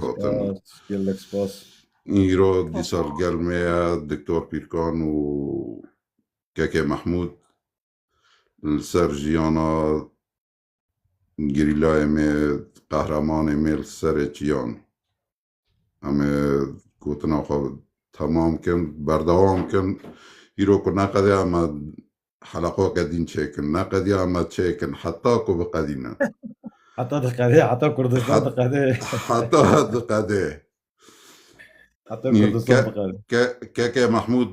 hatin. Gelek spas. Îro dîsa li gel me ye Diktor Pîrkan û Keke Mehmûd li ser jiyana gerîlayê me qehremanê me li serê çiyan. Em ê gotina xwe temam kin, berdewam kin. Îro ku neqede em Heleqa qedîn çêkin, ne qediya me çêkin heta ku biqedîne. Heta diqedê, heta Kurdistan diqedê. Heta diqedê. Heta Kurdistan diqedê. Keke Mahmud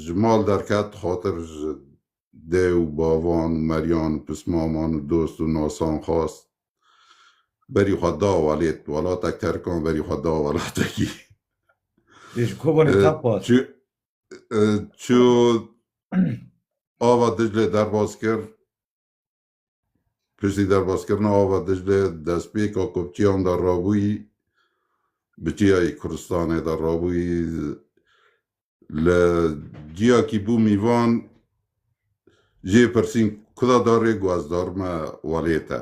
ji mal derket xatir ji dê û bavan û meryan û pismaman û dost û nasan xast berî xwe da welêt welatek terkan berî xwe da welatekî. Ji kobanê teqat. Çiyo ava Diclê derbas kir. Piştî derbaskirina ava Diclê destpêka kopçiyan de rabûyî bi çiyayê Kurdistanê de rabûyî li ciyakî bû mîvan jê pirsîn kuda darê got dar me welê te.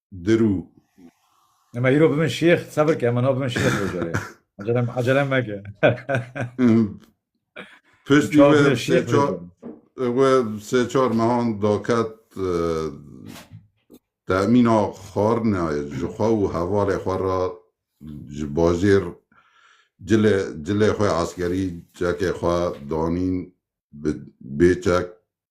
Dirû. Ema îro bimin şêx, sebir ke ema no bimin şêx rojarê. Acelem, acelem meke. Piştî Çav we bimin sê şêx çar rojarê. we sê çar mehan daket e, temîna xwarinayê ji xwe û hevalê xwe re ji bajêr cilê cilê xwe eskerî çekê xwe danîn bi bê çek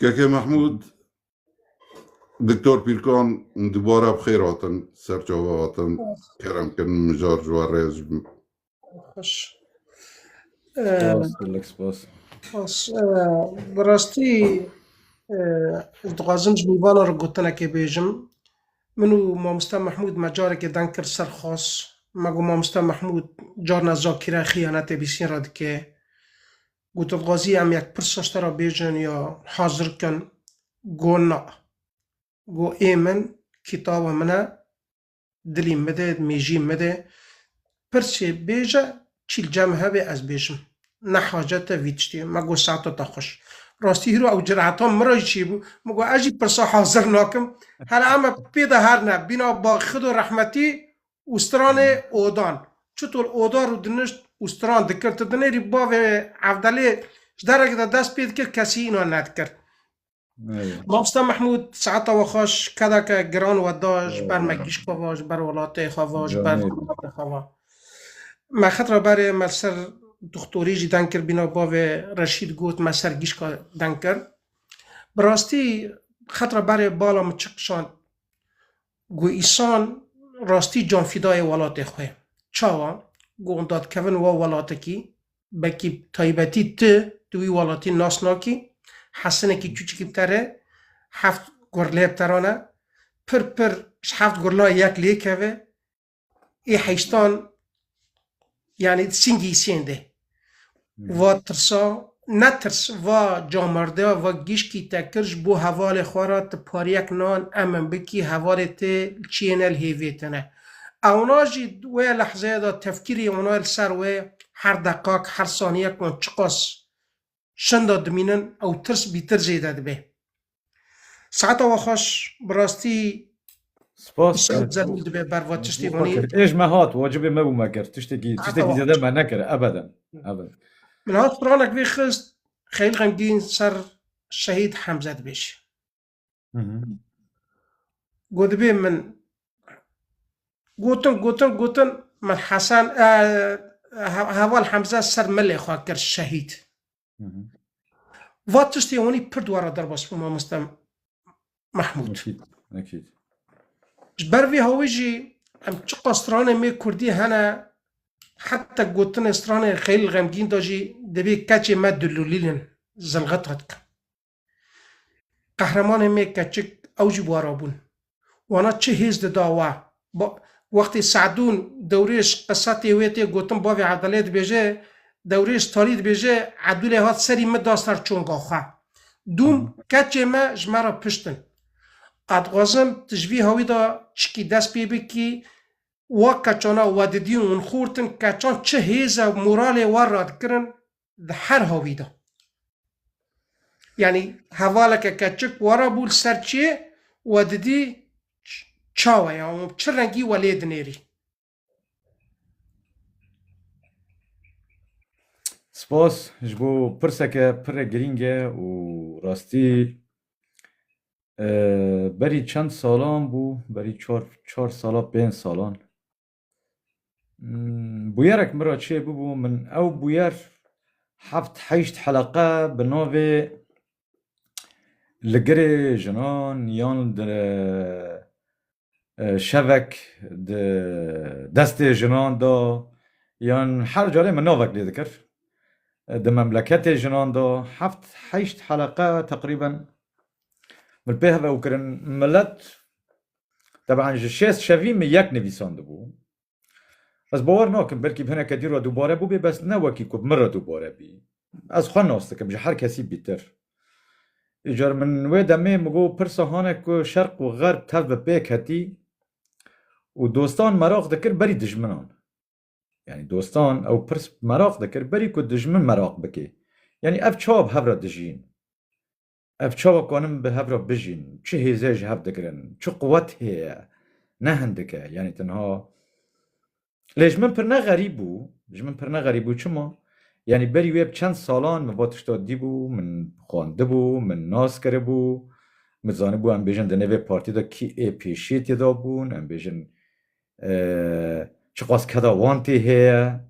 Keke Mahmud, Doktor Pîrkan dubara bi xêr hatin, ser çava hatin, kerem kirin mijar ji we rêz bin. Xweş. Spas, spas. Xweş. Bi rastî ez dixwazim ji mîvanan re gotinekê bêjim. Min û mamosta Mahmud me carekê deng kir ser xas. Me got mamosta Mahmud carna zakîra xîyanetê bîsîn re dike. Gotin xwezî em yek pirsa te re bêjin ya hazir kin. Go na. Go ê min kîtaba min e, dilî min de, mêjî min de. Pirsê bêje çîl cem hebe ez bêjim. Ne hacet e vî tiştê. Me go saeta te xweş. Rastî hîro ew cireta min re jî çêbû. Min go ez jî pirsa hazir nakim. Hera em pê de her ne bîna Baxido Rehmetî û stranê odan. Çitor oda rû dinişt û stran dikir, ti dinêrî bavê Evdelê ji dereke de dest pê dikir, kesî înan nedikir. Mamosta Mehmûd saeta we xweş kedeke giran we da ji ber me gişka ve, ji ber welatê xwe ve, ji ber miletê xwe ve. Me xetira berê me li ser doktorî jî deng kir bîna bavê Reşîd got me ser gişka deng kir. Bi rastî xetira berê bala min çi qişand Got Îsan rastî canfîdayê welatê xwe. Çawa? Got hûn dadkevin wa welatekî, belkî bi taybetî tu di wî welatî nas nakî, hesinekî çûçikî bi te re heft gurlê bi te re ne, pir pir ji heft gurla yek lê keve, ê heyştan yani çin giysiyen de va tirsa ne tirs va camerde va gişkî te kir ji bo hevalê xwe re tu pariyek nan em min bikî hevalê te çiyên el hêvê te ne ewna jî wê lehzeye de tefkîrê wana li ser wê her deqak her saniyek wan çiqas Şenda dimînin ew tirs bîtir zêde dibe. Saeta we xweş bi rastî Spas. Îşev zerûn dibe berva tiştê Xwe wanî. kir. Êj me hat, wacibê me bû me kir. Tiştekî Hata tiştekî wa. zêde me nekir ebeden. Ebed. Min hat piranek vê xist Xeyl Xemgîn ser Şehîd Hemze dibêje. Got dibê min gotin gotin gotin min Hesen heval Hemze ser milê xwe kir şehîd. Va tiştê hûnî pir dwara derbas bû mamoste Mahmûd. Ji ber vê hawî jî em çiqa stranê mê Kurdî hene heta gotinê stranê xeyl xemgîn da jî dibê keçê me dilûlîlin zilxet xet kin. Qehremanên me keçik ew jî wara bûn. Wana çi hêz dida we. Wextê Se'dûn Dewrêş qisa tê wê tê gotin bavê Abdalê dibêje, Dewrêş tarî dibêje, Abdulê hat serî min da ser çonga xwe. Dûm keçê me ji me re piştin. A dixwazim tu ji vî hawî de çikî dest pê bikî, wa keçana we didîn hûn xurt in, keçan çi hêz e moralê we radikirin, di her havî de. Yanî hevaleke keçik were bû li ser çê we didî çawe ya û çi rengî we lê dinêrî. Spas ji bo pirseke pire girîng e û rastî berî çend salan bû, berî çar çar sala pênc salan Bûyerek min re çê bûbû min ew bûyer heft heşt heleqe bi navê Li girê jinan yan di şevek di destê jinan de yan her carê min navek lê dikir di memleketê jinan de heft heşt heleqe teqrîben min pê hev ew kirin milet Teban ji şêst şevî min yek nivîsandibû. Ez bawer nakim belkî hineke dî re dubare bûbê bes ne wekî ku bi min re dubare bî. Ez xwe nas dikim ji her kesî bîtir. Îcar min wê demê min got pirsa hane ku şerq û xerb tev bi pêk hetî û dostan meraq dikir berî dijminan. Yanî dostan ew pirs meraq dikir berî ku dijmin meraq bike. Yanî ev çawa bi hev re dijîn? Ev çawa ku anin bi hev re bijîn, çi hêzê ji hev digirin, çi quwet heye, ne hindik e, yanî tenha Lê ji min pir ne xerîb bû, ji min pir ne xerîb bû, çima? Yanî berî wê bi çend salan min va tişta dîbû, min xwendibû, min nas kiribû, min zanibû em bêjin di nêvê partî de kî ê pêşiyê tê dabûn, em bêjin çiqas keda wan tê heye.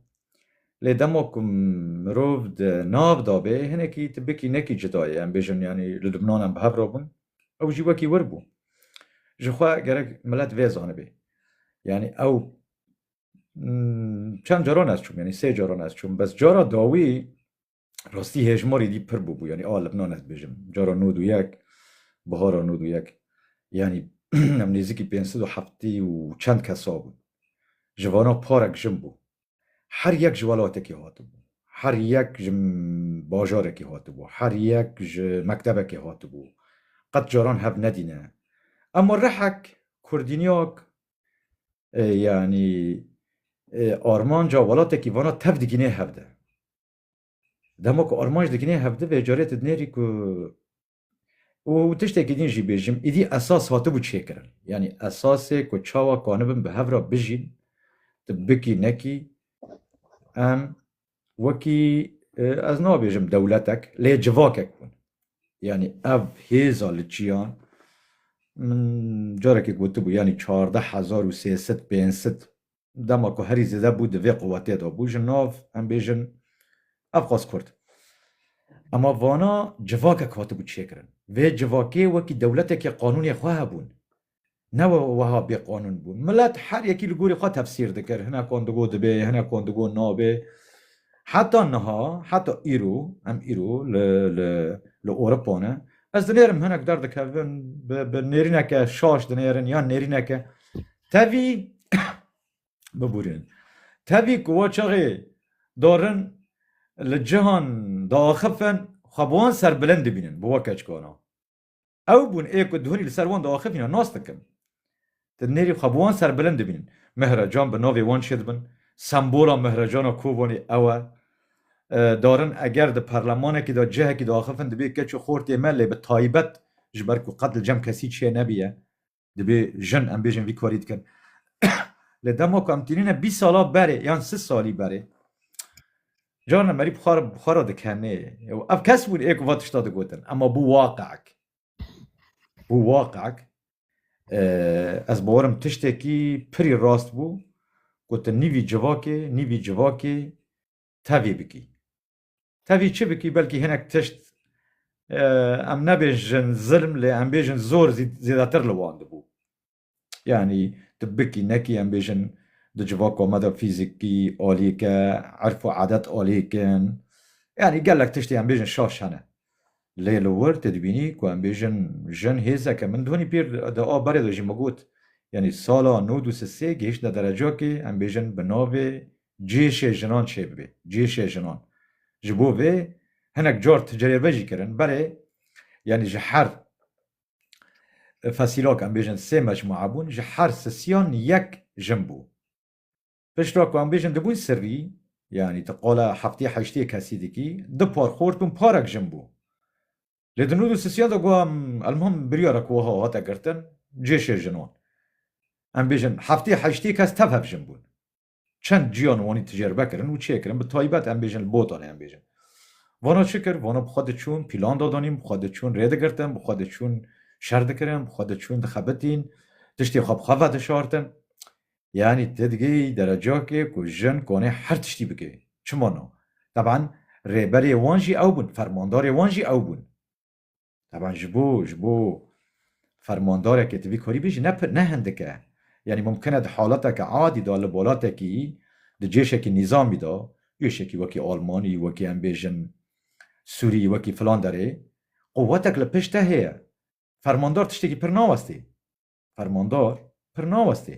Lê dema ku mirov di nav de bê hinekî tu bikî nekî cuda ye em bêjin yanî li Lubnan em bi hev re bûn ew jî wekî wir bû. Ji xwe gerek milet vê zanibê. Yanî ew çend caran ez çûm yanî sê caran ez çûm bes cara dawî rastî hêjmarî dî pir bûbû yanî a li binan ez dibêjim cara nod û yek bihara nod û yek yanî em nêzikî pênc sed û heftî û çend kesa bûn ji vana parek jin bû her yek ji welatekî hatibû her yek ji bajarekî hatibû her yek ji mektebekê hatibû qet caran hev nedîne ema rehek kurdînyak yanî armanca welatekî vana tev digînê hev de Dema ku armanc dikinê hevdi vê carê tu dinêrî ku û tiştekî din jî bêjim îdî esas hatibû çêkirin. Yanî esasê ku çawa kanibin bi hev re bijîn tu bikî nekî em wekî ez nabêjim dewletek lê civakek bûn. Yanî ev hêza li çiyan min carekê gotibû yanî çardeh hezar û sê sed pênc sed dema ku herî zêde bû di vê quwetê de bû ji nav em bêjin ev xwest kurd. Ema vana civakek hatibû çêkirin. Vê civakê wekî dewletekê qanûnê xwe hebûn. Ne weha bê qanûn bûn. Milet her yekî li gorî xwe tefsîr dikir. Hinek wan digo dibê, hinek wan digo nabê. Heta niha, heta îro, em îro li li li Ewropa ne. Ez dinêrim hinek derdikevin bi bi nêrîneke şaş dinêrin yan nêrîneke Tevî bibûrin. Tevî ku wa çaxê darin li cihan diaxifin xwe bi wan serbilind dibînin, bi wa keçikana. Ew bûn ê ku dihunî li ser wan diaxifîne nas dikin. Di nêrî xwe bi wan serbilind dibînin. Mihrecan bi navê wan çê dibin. Sembola Mihrecana Kovanê ew e. Darin eger di perlemanekî de cihekî diaxifin dibê keç û xortê me lê bi taybet ji ber ku qet li cem kesî çê nebîye. Dibê jin em bêjin vî karî dikin. Lê dema ku em tînîne bîst sala berê yan sis salî berê carna merî bixwara dikenê ew ev kes bûn ê ku va tişta digotin ema bû waqek bû waqek ez bawerim tiştekî pirî rast bû ku tu nîvî civakê nîvî civakê tevî bikî Tevî çi bikî belkî hinek tişt em nebêjin zilm lê em bêjin zor zêdetir li wan dibû. Yanî tu bikî nekî em bêjin di civaka me de fîzîkî aliyeke, erf û adet aliyekin. Yanî gelek tiştê em bêjin şaş hene. Lê li wir tu dibînî ku em bêjin jin hêzeke min dihonî pîr di a berê de jî min got yanî sala nod û sisê gihiştine derecakê em bêjin bi navê Cihêşê jinan çêbibe. Cihêşê jinan. Ji bo vê hinek car tu cirêve jî kirin. Berê yanî ji her fesîlak em bêjin sê mecmua bûn, ji her sisiyan yek jin bû. Pişta ku em bêjin dibûn sirrî, yanî tu qala heftê heştê kesî dikî, du par xort û parek jin bû. Lê di nû du sisiyan de got em elmuhim biryarek wiha hate girtin, cihêşê jinan. Em bêjin heftê heştê kes tev hev jin bûn. Çend ciyan û wanî ticerbe kirin û çê kirin, bi taybet em bêjin li Botanê em bêjin. Vana çi kir? Vana bi xwe diçûn, pîlan dadanîn, bi xwe diçûn rê digirtin, bi xwe diçûn şer dikirin, bi xwe diçûn dixebitîn, tiştê xwe bi xwe vedişartin. Yanî tu digihî derecakê ku jin konê her tiştî bike. Çima na? Teban rêberê wan jî ew bûn, fermandarê wan jî ew bûn. Taban ji bo ji bo fermandarekê tu vî karî bêjî ne ne hindik e. Yanî mumkin e di haleteke adî de li welatekî di cêşekî nîzamî de cêşekî wekî Almanî wekî em bêjin Sûrî wekî filan derê quwetek li pişt te heye. Fermandar tiştekî pir nawestê. Fermandar pir nawestê.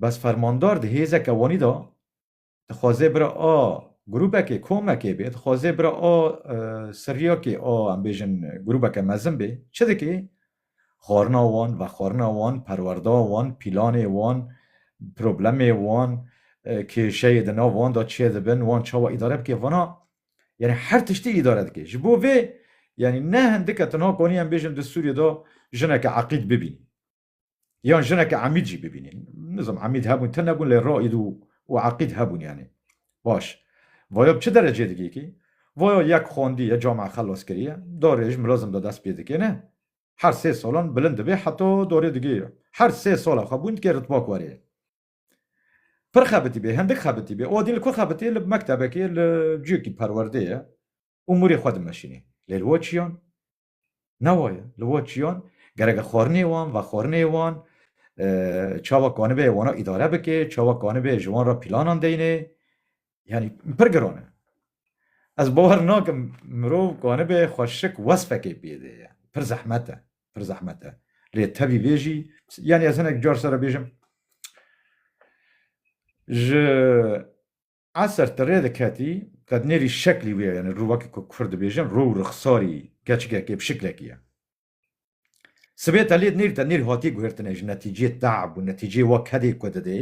Bes fermandar di hêzeke wanî de dixwaze bira a grûbekê, komekê bê, dixwaze bira a siryakê, a em bêjin grûbeke mezin bê, çi dike? Xwarina wan, vexwarina wan, perwerda wan, pîlanê wan, problemê wan, kêşeyê di nav wan de çê dibin, wan çawa îdare bike, vana yanî her tiştî îdare dike. Ji bo vê yanî ne hindike tenha konî em bêjin di Sûriyê de jineke eqîd bibînî. Yan jineke emîd jî bibînî. Nizam emîd hebûn te nebûn lê raîd û û eqîd hebûn yanî. Baş. Vaya bi çi derecê digî kî? Vaya yek xwendî ye camia xelas kiriye. Darê ji milazim de dest pê dikêne. Her sê salan bilind dibê heta darê digî. Her sê sala xwe bûn dikê ritba ku erê. Pir xebitî bê, hindik xebitî bê. Adî li ku xebitî ye? Li mektebekê, li ciyekî perwerdeyê û mûrê xwe dimeşînê. Lê li we çiyan? Ne waye. Li wa çiyan gereke xwarinê wan, vexwarinê wan, çawa kanibe wana îdare bike, çawa kanibe ji wan re pîlanan deyne yanî pir giran e. Ez bawer nakim mirov kanibe xwe şik wesfekê pêde ye. Pir zehmet e, pir zehmet e. Lê tevî vê jî yanî ez hinek car sere bêjim ji Eser ti rê diketî, qet nêrî şeklî wê ye, yanî rû wekî ku kufr dibêjin, rû û rixsarî keçikekê bi şiklekî ye. Sibê te lê nêrî te nêrî hatî guhirtine ji netîcê te'b û netîcê wa kedê ku didê,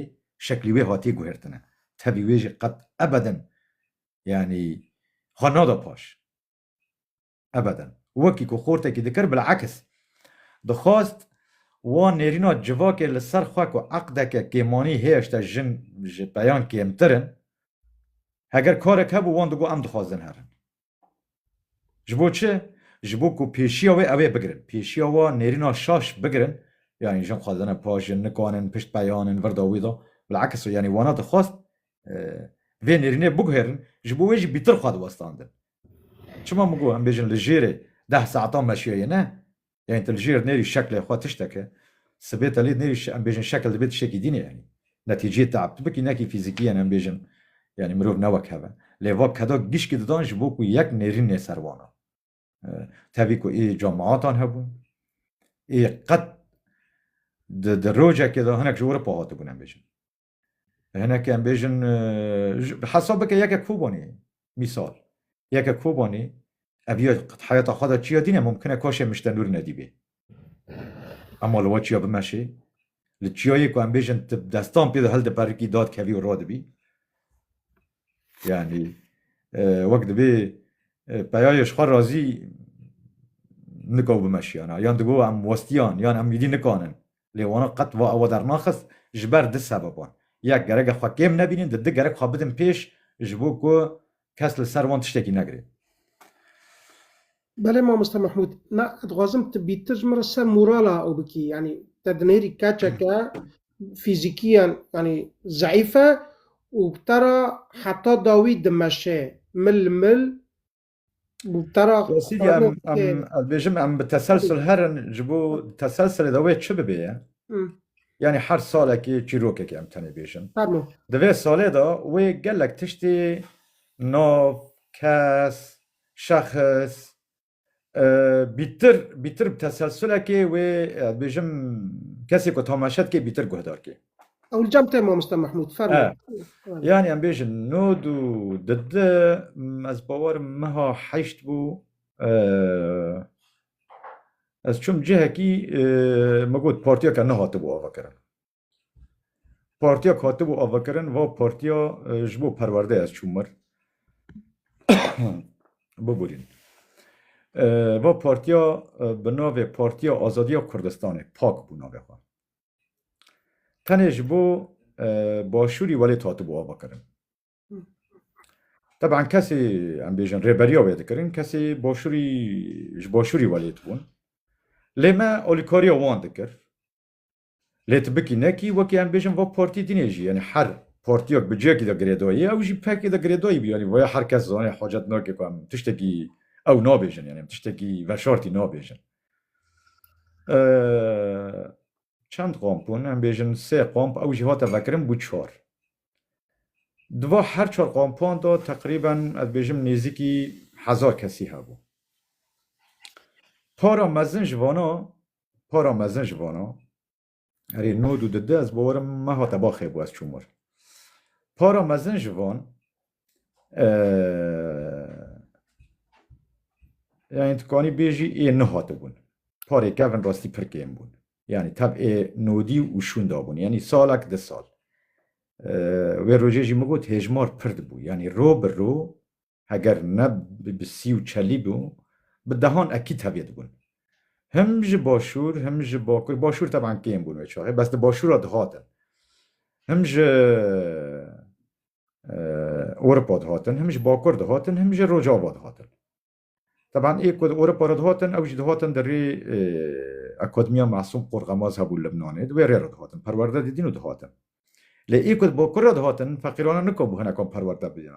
şeklî wê hatî guhirtine. Tevî wê jî qet ebeden yanî ha nada paş. Ebeden. Wekî ku xortekî dikir bil'aks dixwast wan nêrîna civakê li ser xwe ku eqdeke kêmanî hêşta jin ji peyan kêmtir in. Heger karek hebû wan digot em dixwazin herin. Ji bo çi? Ji bo ku pêşiya wê ew ê bigirin. Pêşiya wa nêrîna şaş bigirin. Yanî jin xwazine pajin, nikanin, pişt peyanin, virda wî da. Bil'aks yanî wana dixwast vê nêrînê biguhêrin, ji bo wê jî bîtir xwe diwestandin. Çima min got em bêjin li jêrê deh saetan meşiyayê ne? Yanî tu li jêr nêrî şeklê xwe tiştek e. Sibê te lê nêrî em bêjin şekil dibe tiştekî dîn e yanî. Netîceyê te'b tu bikî nekî fîzîkî yanî em bêjin yanî mirov ne wek hev e. Lê va keda gişkî didan ji bo ku yek nêrîn nê ser wan a. Tevî ku ê camiatan hebûn. Ê qet di rojekê de hinek ji Ewropa hatibûn em bêjin. Hinek em bêjin hesab bike yeke Kobanî mîsal yeke Kobanî ev ya heyata xwe de çiya dîne mumkin e kaşê miştenûr nedîbê. Ema li we çiya bimeşê li çiyayê ku em bêjin tu destan pê de hil diperikî dad kevî û radibî yanî wek dibê peyayê ji xwe razî nika bimeşiyana yan digo em westiyan yan em wîdî nikanin Lê wana qet va ewa dernaxist ji ber du sebeban. Yek, gereke xwe kêm nebînin, di du gerek xwe bidin pêş ji bo ku kes li ser wan tiştekî negire. Belê mamoste Mehmûd, na ez dixwazim tu bîtir min re ser morala ew bikî. Yanî te dinêrî keçeke fîzîkîyan yanî zeîf e û te re heta dawî dimeşe, mil li mil Tara Dosyê em em ez bêjim em bi teselsul herin ji bo teselsulê de wê çi bibê ye? Yanî her salekê çîrokekê em tenê bêjin. Di vê salê de wê gelek tiştê nav, kes, şexs bîtir bîtir bi teselsulekê wê ez bêjim kesê ku tamaşe dike bîtir guhdar kê. Ewl cem te Mamosta Mahmud fermo. Yani em bêjin nod û didi ez bawerim meha heşt bû ez çum cihekî min got partiyeke nehatibû avakirin. Partiyek hatibû avakirin va partiya ji bo perwerde ez çûm mir. Biborîn. Va partiya bi navê Partiya Azadiya Kurdistanê pak bû navê xwe. Tenê ji bo başûrî welêt hatibû avakirin. Teban kesê em bêjin rêberiya wê dikirin kesê başûrî ji başûrî welêt bûn. Lê me alîkariya wan dikir. Lê tu bikî nekî wekî em bêjin va partî dînê jî yanî her partiyek bi cihekî de girêdayî ew jî pekê de girêdayî bû yanî vaya her kes zanê hacet nake ku em tiştekî ew nabêjin yanî em tiştekî veşartî nabêjin. Çend komp bûn? Em bêjin sê komp ew jî hate vekirin bû çar. Di va her çar kompan de teqrîben ez bêjim nêzîkî hezar kesî hebû. Para mezin ji vana, para mezin ji vana Erê nod û dide ez bawerim me hate baxê bû ez çûm wir. Para mezin ji van yani tu kanî bêjî ê nihatibûn. Parê kevin rastî pir kêm bûn. Yani tev ê nodî û şûn dabûn. Yani salek di sal. Wê rojê jî min got hêjmar pir dibû. Yani ro bi ro heger ne bi sî û çelî bû, bi dehan ekîd hevê dibûn. Him ji başûr, him ji bakur, başûr teban kêm bûn wê çaxê, bes di başûra dihatin. Him ji Ewropa dihatin, him ji bakur dihatin, him ji Rojava dihatin. Teban ê ku di Ewropa re dihatin, ew jî dihatin di rê Akademiya Masûm Qorxemaz hebû Libnanê, di wê rê re dihatin, perwerde didîn û dihatin. Lê ê ku di bakur re dihatin, feqîrane nikabû hinek wan perwerde bidîn.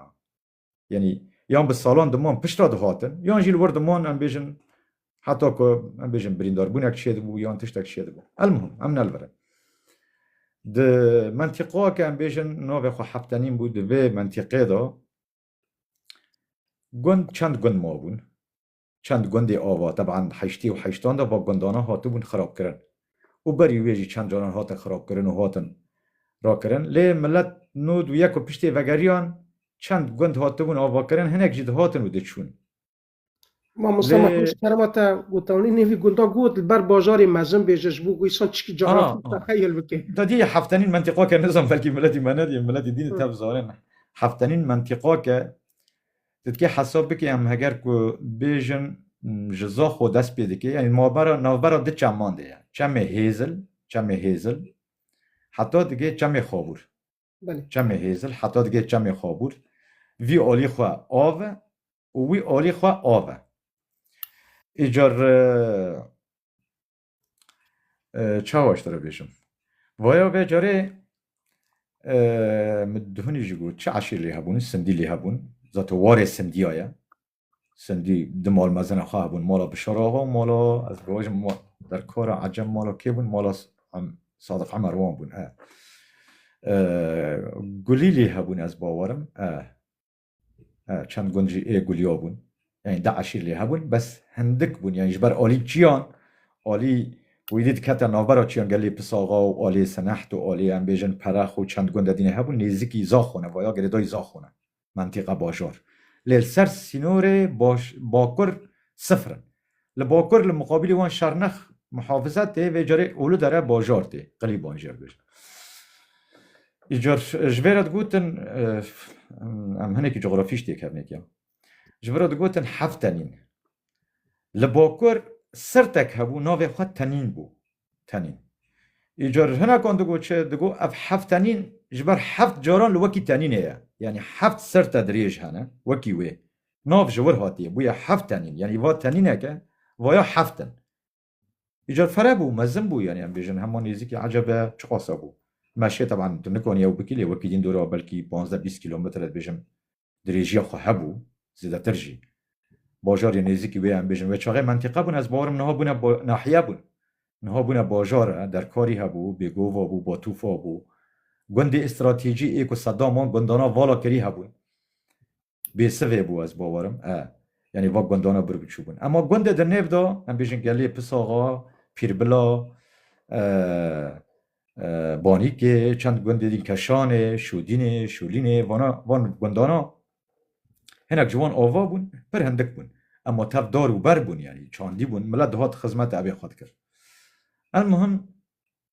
Yanî yan bi salan diman pişta dihatin yan jî li wir diman em bêjin heta ku em bêjin birîndarbûnek çêdibû yan tiştek çêdibû. Elmuhim em nelvirin. Di mentiqa ke em bêjin navê xwe heftenîn bû di vê mentiqê de gund çend gund mabûn. Çend gundê ava, teban di heştê û heştan de va gundanan hatibûn xirabkirin û berî wê jî çend caran hatin xirabkirin û hatin rakirin. Lê milet nûd û yek û piştê vegeriyan çend gund hatibûn avakirin, hinek jî dihatin û diçûn. Mamosta Mehmet ji kerema te gotanî nêvî gunda got li ber bajarê mezin bê ji bo ku îsan çikî caran texeyil bike. Da diyê heftenîn mentîqake nizam belkî miletî me ne diyê miletî dîn û tev zanin heftenîn mentîqake Ti dikê hesab bikî em heger ku bêjin ji Zaxo dest pê dikê yanî navbera navbera du çeman de ye. Çemê Hêzil, Çemê Hêzil heta digê Çemê Xabûr. Belê. Çemê Hêzil heta digê Çemê Xabûr. Vî alî xwe av e û wî alî xwe av e. Îcar Çawa ji te re bêjim? Vaya ve carê min dihunî jî got çi eşîr lê hebûn, sindî lê hebûn. Zat warê sindiya ye. Sindî di mal mezina xwe hebûn. Mala Bişara axa û mala ez bibêjim derkara ecem mala kê bûn? Mala Sadiq Emer wan bûn. Gulî lê hebûn ez bawerim. Çend gund jî ê guliyo bûn. Yanî di eşîr lê hebûn bes hindik bûn yanî ji ber alî çiyan alî wîdî dikete navbera çiyan gelê Pisaxa û alê Sineht û alê em bêjin Perex û çend gund de dînê hebûn nêzikî Zaxon e vaya girêdayî Zaxon e mentîqa bajor lê li ser sînorê baş bakur sifir in. Li bakur li muqabîlê wan Şarnex muhafize tê, vê carê Uludere bajar tê, qilî bajêr dibêjin. Îcar ji vê re digotin, em hinekî cografî ji têkevnê kiya, ji vê re digotin heft tenîn. Li bakur sirtek hebû navê xwe Tenîn bû, Tenîn. Îcar hinekan digot çi, digot ev heft tenîn ji ber heft caran li wekî tenînê ye, yanî heft sirte dirêj hene wekî wê Nav ji wir hatiye, bûye heft tenîn. Yanî va tenîneke vaya heft in. Îcar fere bû, mezin bû yanî em bêjin hema nêzîkî ecebe çiqasa bû. Meşê teban tu nikanî ew bikî lê wekî dîn dora belkî panzdeh bîst kîlometre dibêjim dirêjîya xwe hebû, zêdetir jî. Bajarê nêzîkî wê em bêjin wê çaxê mentîqe bûn ez bawerim niha bûne nahiye bûn. Niha bûne bajar e, derkarî hebû, bêgova bû, batûfa bû. Gundê îstratîjî ê ku Sedaman gundana vala kirî hebûn. Bêsivê bû ez bawerim e. Yanî va gundana bir biçû bûn. Ema gundê di nêv de em bêjin Gelê Pisaxa, Pîrbila, Banîkê, çend gundê din Keşanê, Şûdînê, Şûlînê, vana van gundana hinek ji wan ava bûn, pir hindik bûn. Ema tev dar û ber bûn yanî çandî bûn, milet dihat xizmeta evê xwe dikir. Elmuhim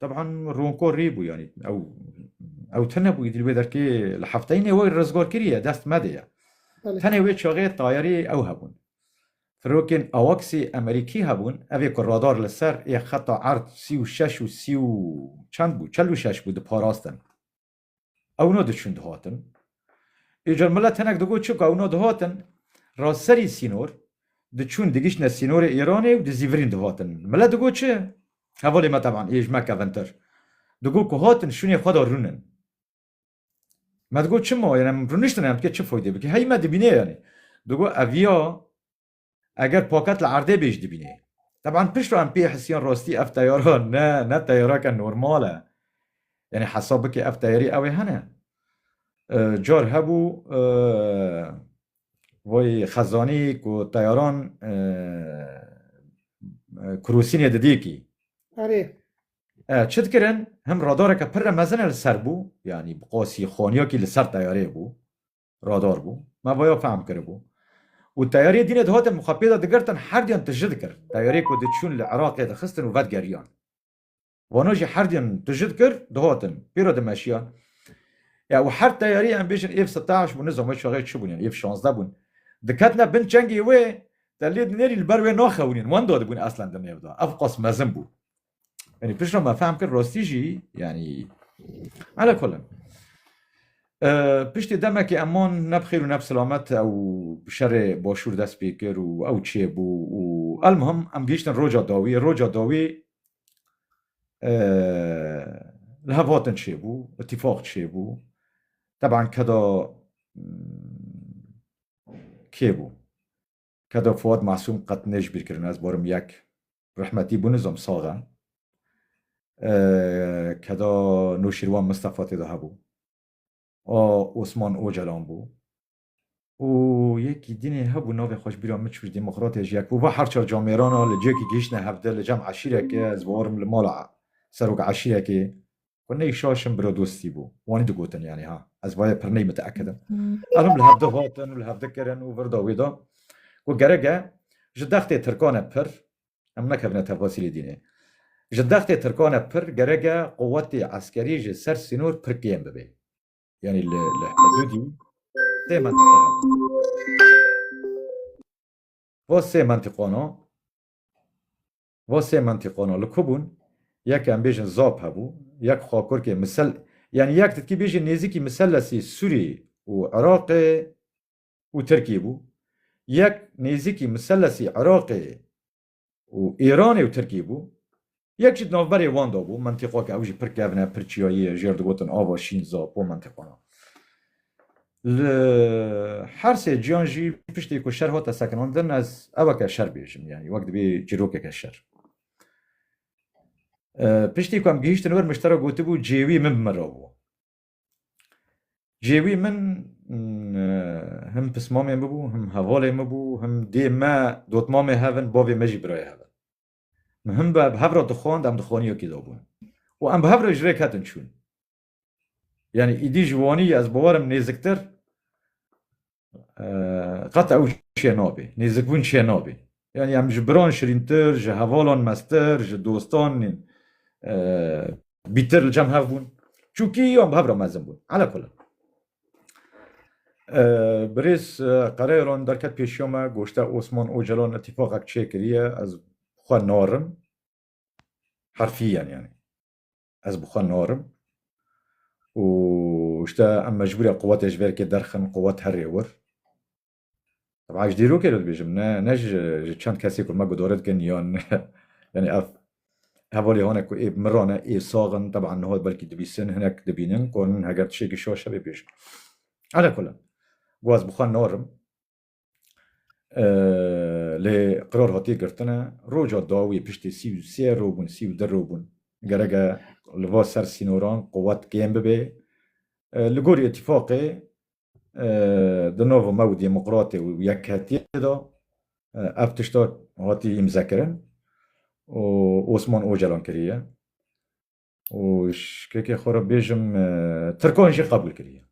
Teban Ronko rê bû yanî ew ew tune bû îdî wê derkê li hefteyînê wê rizgar kiriye dest medê ye. Tenê wê çaxê tayarî ew hebûn. Firokên AWACS'ê Amerîkî hebûn, evê ku radar li ser ê xeta erd sî û şeş û sî û çend bû, çel û şeş bû diparastin. Ew no diçûn dihatin. Îcar mila tenek digot çi ku ew no dihatin ra serî sînor diçûn digiştine sînorê Îranê û di zîvirîn dihatin. Mila digot çi? Hevalê me teban ê ji me kevintir. Digot ku hatin şûnê xwe de rûnin. Me digot çima? Yanî em rûniştine em diket çi foydê bike? Hey me dibîne yanî. Digot ev ya Eger paket li erdê bê jî dibînê. Teban pişt re em pê hisiyan rastî ev teyara ne ne teyareke normal e. Yanî hesab bike ev teyarî ew ê hene. Car hebû vay xezanî ku teyaran kurosînê didêkî. Erê. E, çi dikirin? Him radareke pir re mezin li ser bû, yanî bi qasî xaniyakî li ser teyarê bû. Radar bû. Me vaya fehm kiribû. Û teyariyê dînê dihatin mixapê de digirtin herdiyan tiji dikir. Teyariyê ku diçûn li Iraqê dixistin û vedgeriyan. Vana jî herdiyan tiji dikir dihatin. Pê re dimeşiyan. Ya û her teyariyê em bêjin êv siteş bû nizame çaxê çi bûn yan êv şazdeh bûn. Diketine bin çengê wê te lê dinêrî li ber wê naxewinîn wenda dibûn eslen di nêv de. Evqas mezin bû. Yani pişta me fehm kir rastî jî yani ala kol in. Piştê demekê eman ne bi xêr û ne bi silamet ew şerê başûr dest pê kir û ew çêbû û elmuhim em gihîştin roca dawî roca dawî li hev hatin çêbû itîfaq çêbû teban keda kê bû Kedo Fuad Masûm qet nê ji bîr kirin ez borim yek rehmetî bû nizom sax e kedo Nûşîrwan Mistefa tê de hebû a Osman Ocalan bû û yekî dînê hebû navê xwe ji bîra min çû ji demokratê ji yek bû va her çar camêran a li ciyekî gihiştine hevdeh li cem eşîreke ez borim li mala serok eşîrekê Ku ney şaşim biro dostî bû. Wanî digotin yanî ha. Ez vayê pir ney miteekid im. Erim li hev di hatin û li hev dikirin û vir da wê da. Ku gerek e ji dextê tirkan e pir, em nekevine tefasîlê dînê. Ji dextê tirkan e pir gerek e quwetê eskerî ji ser sînor pir kêm bibê. Yanî li hidûdî sê mentiqe hene. Va sê mentiqana. Va sê mentîqana li ku bûn, yek em bêjin zap hebû, yek xakurkê misel yanî yek ditkî bêjî nêzîkî miselesî Sûrî û Iraqê û Tirkî bû, yek nêzîkî miselesî Iraqê û Îranê û Tirkî bû, yek jî di navberê wan de bû, mentîqa ke ew jî pir kevn e, pir çiyayî ye, jêr digotin ava şîn, zapo, mentîqana. Li her sê ciyan jî piştî ku şer hate sekinandin ez eweke şer bêjim yanî wek dibî çîrokeke şer. Piştî ku em gihîştin wir miştera gotibû cêwî min bi min re bû. Cêwî min him pismamê min bû, him hevalê min bû, him dê me dotmamê hev in, bavê me jî birayê hev in. Min him bi hev re dixwand, em di xaniyekê de bûn û em bi hev re ji rêk hetin çûn. Yani îdî ji Wanî yê ez bawer im nêziktir qet ew şê nabê. Nêzikbûn şê nabê. Yani em ji biran şirîntir, ji hevalan mestir, ji dostan bîtir li cem hev bûn. Çûkî yan bi hev re mezin bûn. Ala kula. Birêz qereyalan derket pêşiya me goşte Osman Ocalan itîfaqek çêkiriye ez xwe narim. Herfî yen yani. Ez bi xwe narim û işte em mecbûre quwetê ji verkê derxin, quwet herê wir. Teba ji dîrokê re dibêjim ne ne ji ji çend kesê ku me gudore dikin yan yanî ev hevalê hane ku ê bi min re ne ê sax in teban niha belkî dibîsin hinek dibînin ku heger tiştekî şaş hebe bêjin. Elekulin go ez bi xwe narim. lê qirar hatiye girtine roja dawî piştî sî û sê roj bûn sî û du roj bûn gereke li va ser sînoran quwet kêm bibê li gorî îtîfaqê di nava me û demokratê û yekhetiyê de ev tişta hatî îmzekirin û Osman Ocalan kiriye û ji kekê xwe re bêjim tirkan jî qebûl kiriye.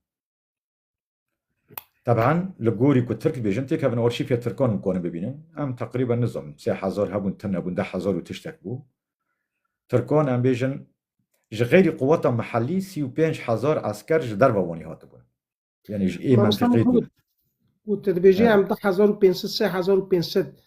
Teb'an li gorî ku Tirk bêjin têkevin arşîfê Tirkan him konin bibînin em teqrîben nizom sê hezar hebûn tim hebûn deh hezar û tiştek bû. Tirkan em bêjin ji xeyrî quweta mihellî sî û pênc hezar esker ji derva wanî hatibûn. Yanî ji ê mentiqê dûr. Û tu dibêjî em du hezar û pênc sed sê hezar û pênc sed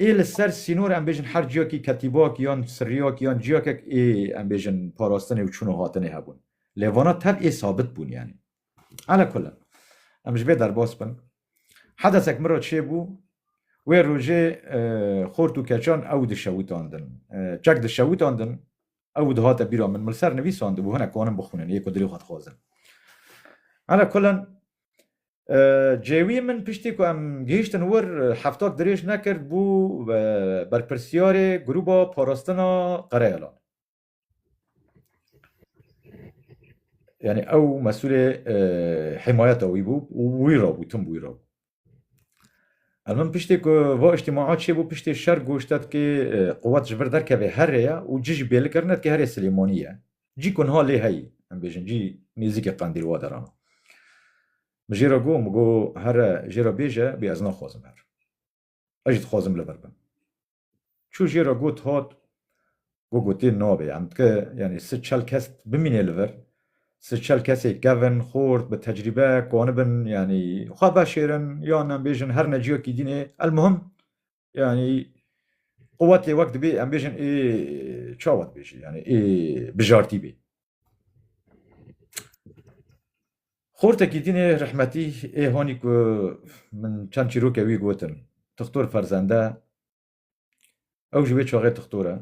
Ê li ser sînor em bêjin her ciyakî ketîbak yan sirrîyak yan ciyakek ê em bêjin parastinê û çûn û hatinê hebûn. Lê vana tev ê sabit bûn yanî. Ala kullin em ji vê derbas bin. Hedesek min re çêbû wê rojê xort û keçan ew dişewitandin. Çek dişewitandin ew dihate bîra min. Min li ser nivîsandibû hinek anin bixwînin yê ku dilê xwe dixwazin. Ala kullin Cêwî min piştî ku em gihîştin wir heftak dirêj nekir bû berpirsyarê grûba parastina Qereyalan. Yanî ew mesûlê hîmayeta wî bû û wî re bû, tim wî re bû. Em min piştî ku va îjtîmaa çêbû piştê şer goştet kê quwet ji vir derkevê herêya û cih jî bêli kirine kê herê Silêmanî ye. Cî ku niha lê heyî, em bêjin cî nêzîkê Qandîl wa deran. Min jê re got, min got here jê re bêje bê ez naxwazim her. Ez jî dixwazim li vir bim. Çû jê re got hat, got gotê nabê em dike yanî si çel kes bimînê li vir, si çel kesê kevin, xort, bi tecrîbe, ku anibin yanî xwe veşêrin yan em bêjin her neciyekî dînê, elmuhim yanî quwetê wek dibê em bêjin ê çawa dibêjî yanî ê bijartî bê. Xortekî dînê rehmetî ê hanî ku min çend çîroke wî gotin Tixtor Ferzende ew ji wê çaxê Tixtor e.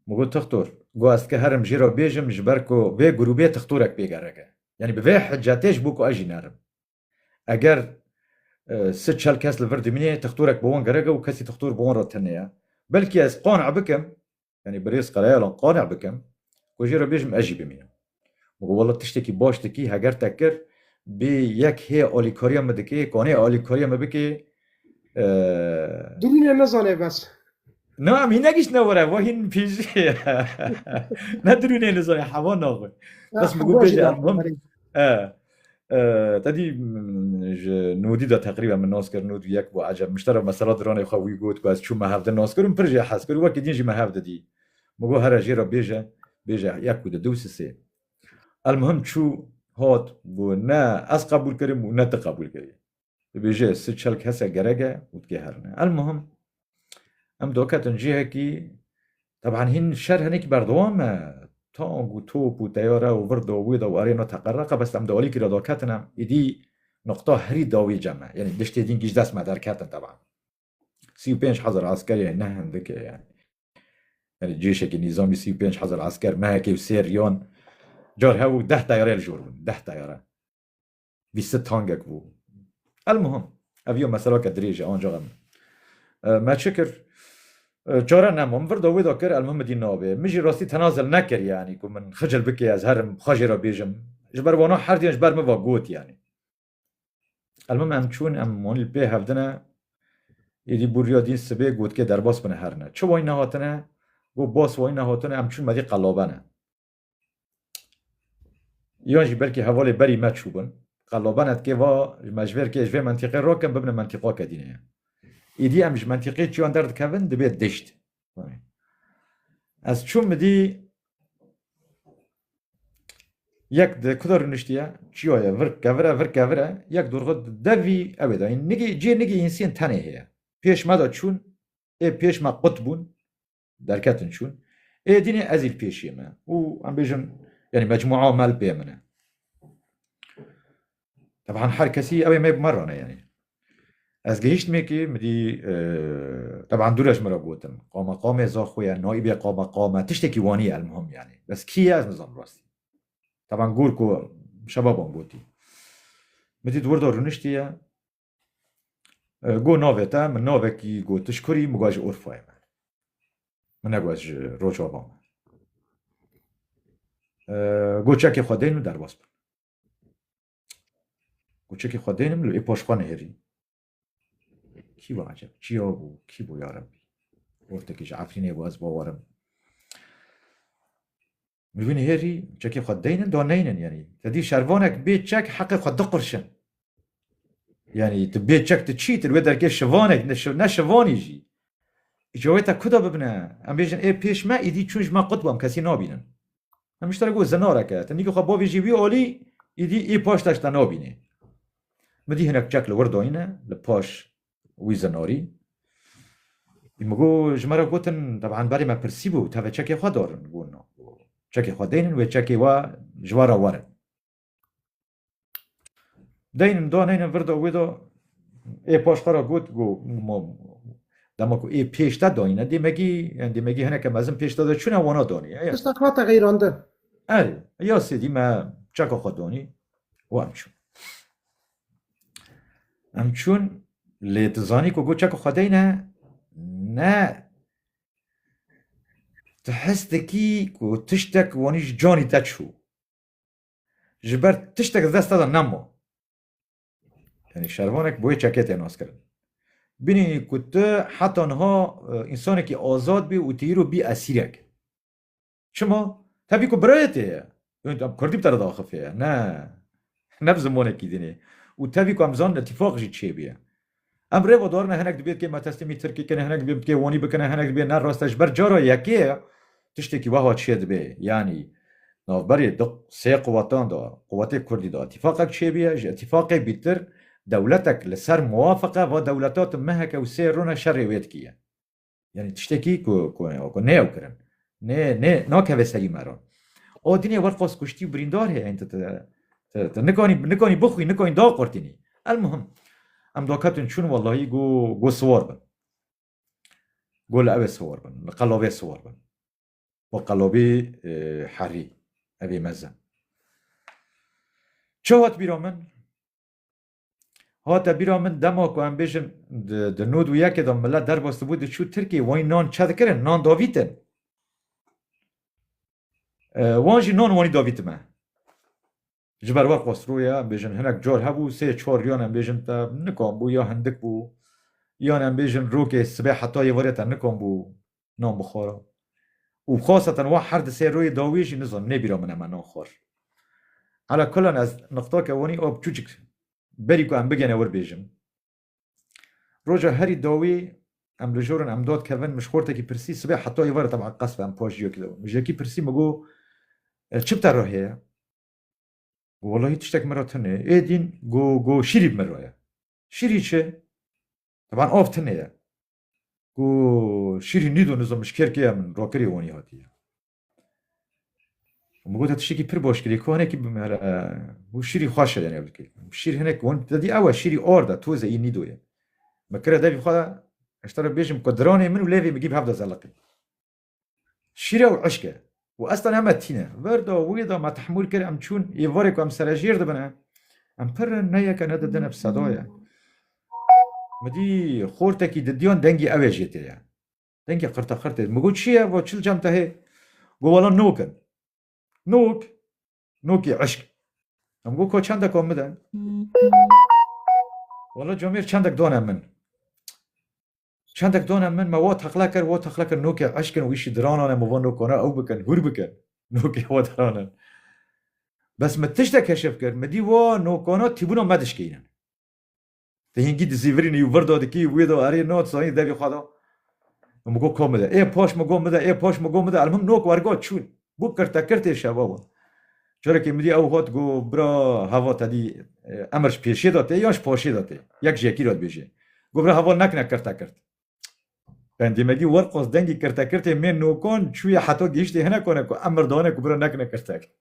Min got Tixtor got ez dike herim jê re bêjim ji ber ku vê grûbê Tixtorek pê gerek e. Yanî bi vê hicetê ji bo ku ez jî nerim. Eger si çel kes li vir dimînê textorek bi wan gerek e û kesî textor bi wan re tune ye. Belkî ez qane bikim, yanî birêz Karayalan qane bikim ku jê re bêjim ez jî bimînim. Min got wela tiştekî baş dikî, heger te kir bê yek hê alîkariya min dikê, kanê alîkariya min bikê Dilîne nezane bes. No em hîn nekiştine were we hîn pêjî ne dirûnê li zanê hewa naxwe bes min got bêjî em him tedî ji nodî de teqrîben min nas kir nod yek bû ecem miştera mesela diranê xwe wî got ku ez çû me hevde nas kir min pir jê hez kir wekî din jî me hevde dî min got here jê re bêje bêje yek û di du sisê el mihim çû hat bû ne ez qebûl kirim û ne ti qebûl kirî dibêje si çel kese gerek e û dikê herine. Elmuhim em doketin cihekî teban hîn şer henekî berdewam e tank û top û teyare û vir do wê de û arê no teqereqa bes em di alîkî re doketin em êdî noqta herî dawî cem e yanî diştê dîn kî dest me derketin teban sî û pênc hezar askerê ne hindike yani yani cêşekî nîzamî sî û pênc hezar asker mehekê û sêr yan car hewû deh teyare li jor bûn deh teyare Vî sed tangek bû. Elmuhim ev yo meselake dirêj e ancaxa min. Me çi kir? Çare nema min vir da wê da kir elmuhim min dî navê. Min jî rastî tenazel nekir yanî ku min xicil bike ez herim xwe jê re bêjim. Ji ber wana herduyan ji ber min ve got yanî. Elmuhim em çûn em wan li pê hev dine êdî bû riya dîn sibê gotkê derbas bine herine. Çi wayî nehatine? Got bas wayî nehatine em çûn me dî qelabene. Yan jî belkî hevalê berî me çûbin. Qellaban et kê va ji me ji vêr kê ji vê mentîqê rakin bibine mentîqa ke dîne ye. Îdî em ji mentîqê çiyan derdikevin dibê dişt. Ez çûm midî yek di kuda rûniştiye çiyaye vir kevire vir kevire yek dorxu devî ew ê dayîn nigî cê nigî însên tenê heye. Pêş me de çûn ê pêş me qut bûn derketin çûn. Êdînê ez îl pêşiyê me û em bêjin yanî mecmûa mel bê min e. Teban her kesî ew ê me bi me rane yanî. Ez gihîştmêkê min dî teban dû re ji min re gotin qamaqamê zaxwe ye, naîbê qamaqam e, tiştekî wanî ye elmuhim yanî. Bes kî ye ez nizanim rastî. Teban gor ku şebaban gotî. Min dît wir de rûniştiye. Go navê te min navekî gotiş kurî min got ji Urfayê me. Min negot ji Rojava me. Go çekê xwe deyn û derbas bin. Go çekê xwe deynim li wê paş xwe nihêrî. Kî va eceb çiya bû kî bû ya Rebbî. Ortekî ji Efrînê bû ez bawerim. Mivînê hêrî çekê xwe deynin do neynin yanî te dî şervanek bê çek heqê xwe diqirçin. Yanî tu bê çek tu çî tu li wê derkê şivanek ne şivanî jî îca wê te ku de bibine em bêjin ê pêş me îdî çûn ji me qut bû em kesî nabînin. Em ji te re got zinarek e te nîkê xwe bavê jî wî alî îdî ê paş te ji te nabînê. Min dî hinek çek li wir dayîne li paş Wî zinorî. Î min got, ji me re gotin, teban berê me pirsîbû, tevê çekê xwe dorin, got na. Çekê xwe deynin wê çekê we ji we re werin. Deynin da neynin vir da wê da, ê paş xwe re got, got dema ku ê pêş te dayîne dêmegî, yan dêmegî hineke mezin pêş te de çûne wana danî. Tiştek hate xeyrandin. Erê, ya sêdî me çeka xwe danî û em çûn. Em çûn lê tu zanî ku goça ku xwe dey ne ne tu hes dikî ku tiştek wanî ji canî te çû. Ji ber tiştek di dest te de nema. Yanî şervanek bi wê çekê tê naskirin. Bînî ku tu heta niha e, însanekî azad bî û tu îro bî esîrek. Çima? Tevî ku birayê tê ye. Em kurdî bi te re diaxifê ye. Ne. Ne bi zimanekî din e. Û tevî ku em zanin îtîfaq jî çêbûye. Em rêva darine hinek dibê bi kê me teslîmî tirkî kine, hinek dibê bi kê wanî bikine, hinek dibê ne rast e. Ji ber cara yekê tiştekî weha çê dibe. Yanî navberê du sê quwetan de, quwetê kurdî de îtîfaqek çêbûye. Ji îtîfaqê bîtir dewletek li ser muwafiqe va dewleta tu meheke û sê rûne şerê wê dikî ye. Yani tiştekî ku ku ku neyew kirin. Nê nê nakeve serî me re. O dinê wer xwest kuştî û birîndar heye hîn tu tu tu tu nikanî nikanî bixwî nikanî daqurtînî. Elmuhim em daketin çûn wellahî got got siwar bin. Got li ew ê siwar bin, li qelabê siwar bin. Û qelabî herî evê mezin. Çi hat bîra min? Hate bîra min dema ku em bêjin di nod û yekê de milet derbastibû diçû Tirkiyê wanî nan çe dikirin, nan davîtin. Wan jî nan wanî davîti me. Ji ber we qasroya em bêjin hinek car hebû sê çar yan em bêjin te nikan bû ya hindik bû yan em bêjin rokê sibê heta yê varê te nikan bû nan bixwara û xwasa tenwa her di sê royê dawiyê jî nizanim nê bîra min e me nan xwar. Ala kulan ez nuqta ke wanî a çûçik berî ku em bigene wir bêjim. Roja herî dawiyê em li jor in em dad kevin min ji xortekî pirsî sibê heta êvar e teban qesbe em paş ciyakî de bin min ji yekî pirsî min got çi bi te re heye? Got welahî tiştek min re tune ye. Êdîn got got şîrî bi min re ye. Şîrî çi? Teban av tune ye. ku şîrî nîdo nizo min ji kêrkê ye min rokirî û wanî hatiye. Min gote tiştekî pir baş kirî ku hinekî bimere û şîrî xweş e yenê bikê. Şîr hinek wan te dî ew e şîrî ord e toze î nîdo ye. Min kire devî xwe eştera bêjim ku diranê min û lêvê min gî bi hev de zeliqî. Şîre û eşq e. Û ez tenê me tîne. Vir da, wî da me tehmûl kir, em çûn. Yê vorê ku em serejêr dibin e. Em pir in, ne yek e, ne di din e, bi seda ye. Min dî xortekî di diyan dengê ew ê jê tê ye. Dengê qirteqirtê. Min got çi ye? Vat çil cem te hê? Got wala nok in. Nok? Nokê eşq. Em got ka çendek wan bide. Wala camêr çendek dane min. Çendek done min me wo teqle kir, wo teqle kir nokê eşq in û wî şî diranane min vo nok ona ew bikin, hûr bikin. Nokê wo diranin. Bes min tiştek keşif kir, min dî wo nok ona tîbûna me dişkînin. Te hingî dizîvirîn î û vir do dikî û wê do erê no sonî devî xwe do. Min got ko mide. Ê paş min got mide, ê paş min got mide, elmuhim nok wergot çûn. Ku kirtekirtê şeva we. Carekê min dî ew got ku bira heva te dî emir ji pêşê de tê yan ji paşê de tê. Yek ji yekî re dibêje. Got bira heva nekine kirtekirt. Pendê me dî werqas dengê kirtekirtê mê nokan çûye heta gihiştê hinekan e ku emir dane ku bira nekine kirtekirt.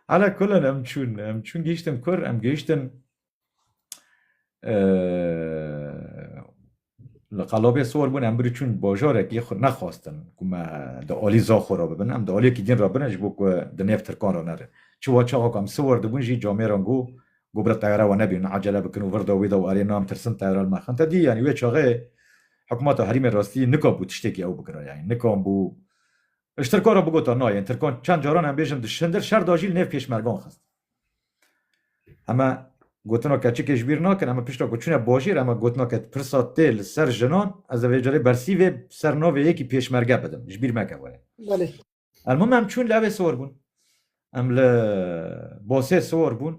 Ala kulen em çûn. Em çûn gihiştin kur, em gihiştin Li qalobê sor bûn em birî çûn bajarekî nexwastin ku me di alî zaxo re bibin. Em di aliyekî din re bin ji bo ku di nêv tirkan re nerin. Çiwa çaxa ku em siwar dibûn jî camêran got ku birê teyare wan nebînin, acele bikin û vir da wê da û erê na em tirsin teyare li me xin te dî. Yanî wê çaxê hikûmeta herîmê rastî nikabû tiştekî ew bikira. Yanî nikanbû ji tirkan re bigotin na yên tirkan çend caran em bêjin di şindir şer da jî li nêv pêşmergan xistin. Heme gotina keçikê ji bîr nakin heme pişta ku çûne bajêr heme gotina ke pirsa tê li ser jinan ez ê vê carê bersî vê ser navê yekî pêşmerge bidim ji bîr meke were. Belê. El mim em çûn li ewê siwar bûn. Em li basê siwar bûn.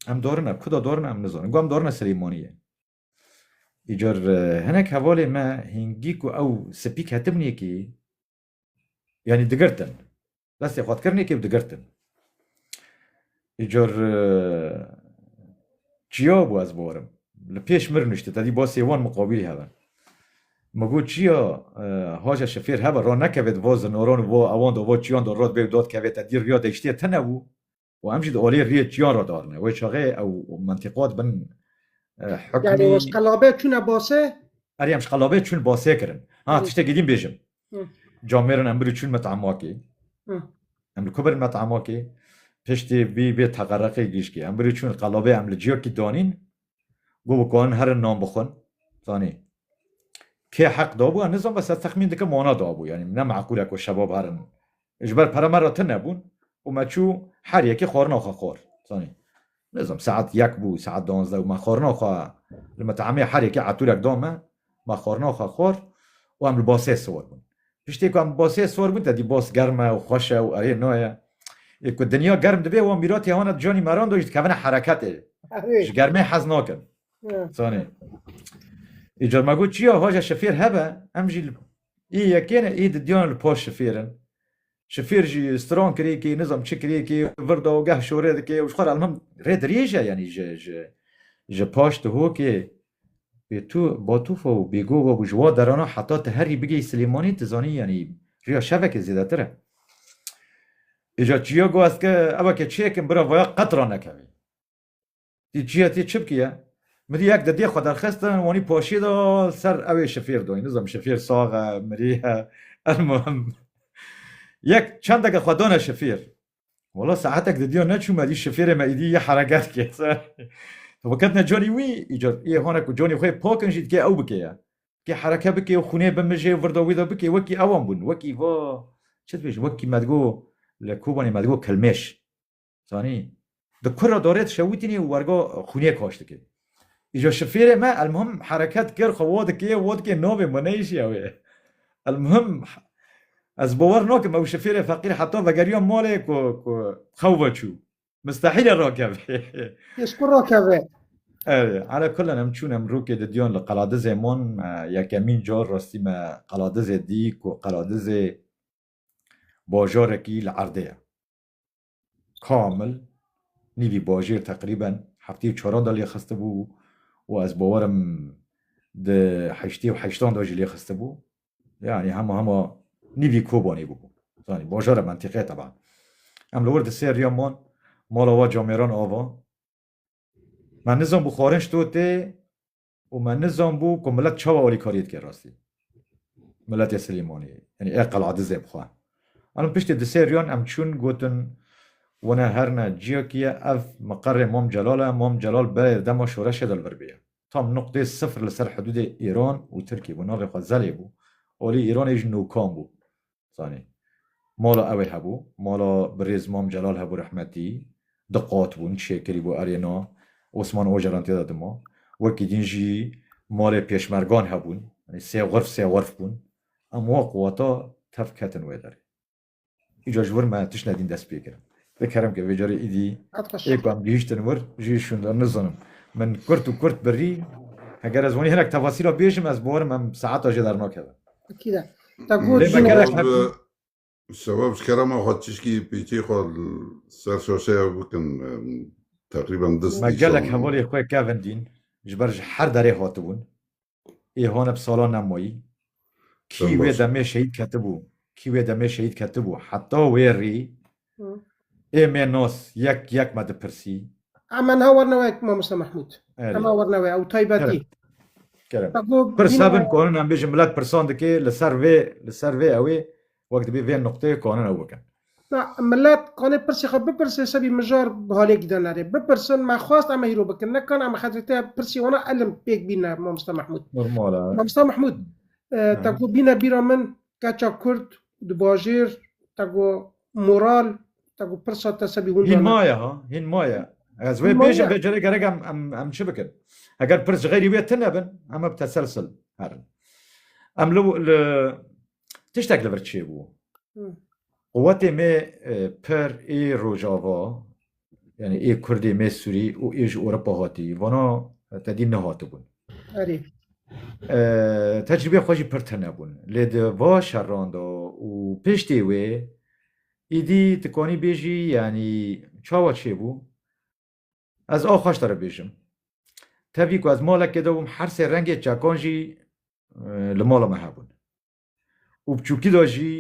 Em dorine kuda dorine em nizanin. Got em dorine Silêmaniyê. Îcar hinek hevalê me hîngî ku ew spî ketibin yekî Yanî digirtin. Destê xwe dikirinê kê û digirtin. Ji cor çiya bû ez borim. Li pêş mir nuşti te dî basê wan miqabîlî hebe. Me got çiya haja şifêr hebe ra nekeve di va zinoran û va ewan de va çiyan de ra dibe û da dikeve te dî riya deştê te nebû. û em jî di olê riyê çiyan re darine wê çaxê ew mentiqa dibin hukmî Yani o şqelabe çune base Erê em şqelabe çûn basê kirin ha Hı. tiştekî dîn bêjim Hı. camêrin em birî çûn met'emakê Hı. em li ku birin met'emakê piştî vî vê teqereqê gişkî em birî çûn qelabê em li ciyakî danîn Got bi karin herin nan bixwin. Zanî kê heq dabû em nizan bes ez texmîn dikim wana dabû. Yanî ne meqûl e ku şebab herin. Ji ber pere me re tune bûn û me çû her yekê xwarina xwe xwar. Zanî nizam saet yek bû, saet duwazdeh û me xwarina xwe li met'emê her yekê etûrek da me. Ma xwarina xwe xwar û em li basê siwar bûn. Piştî ku em li basê siwar bûn tedî bas germ e û xweş e û erê na ye. Ê ku dinya germ dibe wan mîratê wan e di canî meran de û jî dikevine hereketê. Ji germê hez nakin. Zanê. Îcar me got çiya vaje şifêr hebe em jî li ê yekê ne ê di diyan li paş şifêr in. Şifîr jî stran kirêkê nizam çi kirêkê vir da û geh şorê dike û ji xwe re elmim rê dirêj e yanî ji ji ji paş dihokê wê tu batûfa û bêgo wabû ji wa derana heta tu herî bigihî Silêmanî tu zanî yanî rêya şevekê zêdetir e. Îja çiya got ez ke ew ke çêkim bira vaya qet ranekevê. Tî çiye tî çi bikiye? Mirî yek di dê xwe derxistin wanî paşî da ser ewê şifêr doyî nizam şifêr sax e mirî e elmuhim yek çendeke xwe dane şifêr wala saetek di dîya neçûme dî şifêrê me îdî yê hereket kir bi ketine canî wî îcar ê hane ku canî xwe pakin jî dikê ew bikeye kê hereke bikê û xûnê bimijê û virda wî de bikê wekî ewan bûn wekî va çi dibêjin wekî me digo li Kobanê me digo kilmêş Zanî di kur re dorê dişewitînî û wergo xûniyê koç dikê. Îco şifêrê me elmuhim hereket kir xwe wo dikê wo dikê novê min neyişiya wê. Elmuhim ez bower nakim ew şifêrê feqîr heta vegeriya malê ku ku xew veçû. Mistehîl e rakeve. Ji kur rakeve? Erê ala kulen em çûn em rûkê didiyan li Qeladizê man yekemîn car rastî me Qeladizê dî ku Qeladizê bajarekî li erdê ye. kamil nîvî bajêr teqrîben heftê û çaran de lêxistibû û ez bawer im di heştê û heştan de jî lêxistibû. Yanî hema hema nîvî Kobanê bûbû. Zanî bajara mentîqe teban. Em li wir di ser riyan man mala wa camêran ava. Me nizanbû xwarin ji to tê Û me nizanbû ku milet çawa alîkariyê dike rastî. Miletê Silêmaniyê. Yanî ê qela dizê bi xwe. Alim piştî di sê riyan em çûn gotin wene her ne ciyekî ye ev miqerê Mam Celal e, Mam Celal berê di dema şoreşê de li vir bêye. Tam nuqtê sifir li ser hidûdê Îran û Tirkiyê bû. Navê xwe Zelê bû. Alî Îranê jî Nûkan bû. Zanî. Mala ewê hebû. Mala birêz Mam Celal hebû rehmetî. Di qat bûn, çê kirî bû erê na. Osman Ocalan tê de dima. Wekî din jî malê pêşmergan hebûn. Yanî sê xurf sê xurf bûn. Em wa quwata tev ketin wê derê. Îcar ji wir me tiştine din dest pê kirin. Te kerem ke vêcarî îdî ê ku em gihîştin wir jî şûnda nizanim. Min kurt û kurt birî. Heger ez wanî hinek tefasîla bêjim ez bawerim em saeta jê dernakevin. Lê me gerek hebû. Sewab ji kerema xwe tişkî pêçê xwe li ser şaşeya bikin teqrîben du stêşan. Me gelek hevalê xwe kevin dîn ji ber ji her derê hatibûn. Ê haneb sala ne mayî. Kî wê demê şehîd ketibû, kî wê demê şehîd ketibû heta wê rî ê mê nas yek yek me dipirsî. Emen ha werna we mamoste Mehmûd. Ema werna we ew taybetî. Kerem. Pirsa bin ku em bêjin milet pirsan dikê li ser vê li ser vê ewê Wek dibê vê nuqteyê kanin ew bikin. Na, millet kanê pirsê xwe bipirsê sebî mijar bi halê gide nerê. Bipirsin, me xwest em hîro bikin. Ne kan em xetrê te pirsê wana elim pêk bîne Mamosta Mehmûd. Normal e. Mamosta Mehmûd, te ku bîne bîra min keça Kurd di bajêr te ku moral te ku pirsa te sebî hûn Hîn maye ha, hîn maye. Ez wê bêjim vê cere gerek em em em çi bikin? Eger pirs ji xeyrî wê tine bin em bi teselsil herin. Em li li Tiştek li vir çêbû. Quwetê me per ê Rojava yani ê Kurdê me Sûrî û ê ji Ewropa hatî vana te dî nehatibûn. Erê. Tecrîbê xwe jî pir tune bûn. Lê di va şeran de û piştê wê êdî dikanî bêjî yanî çawa çêbû Ez aw xweş te re bêjim. Tevî ku ez malekê de bûm her sê rengê çekan jî li mala me hebûn. Û bi çûkî de jî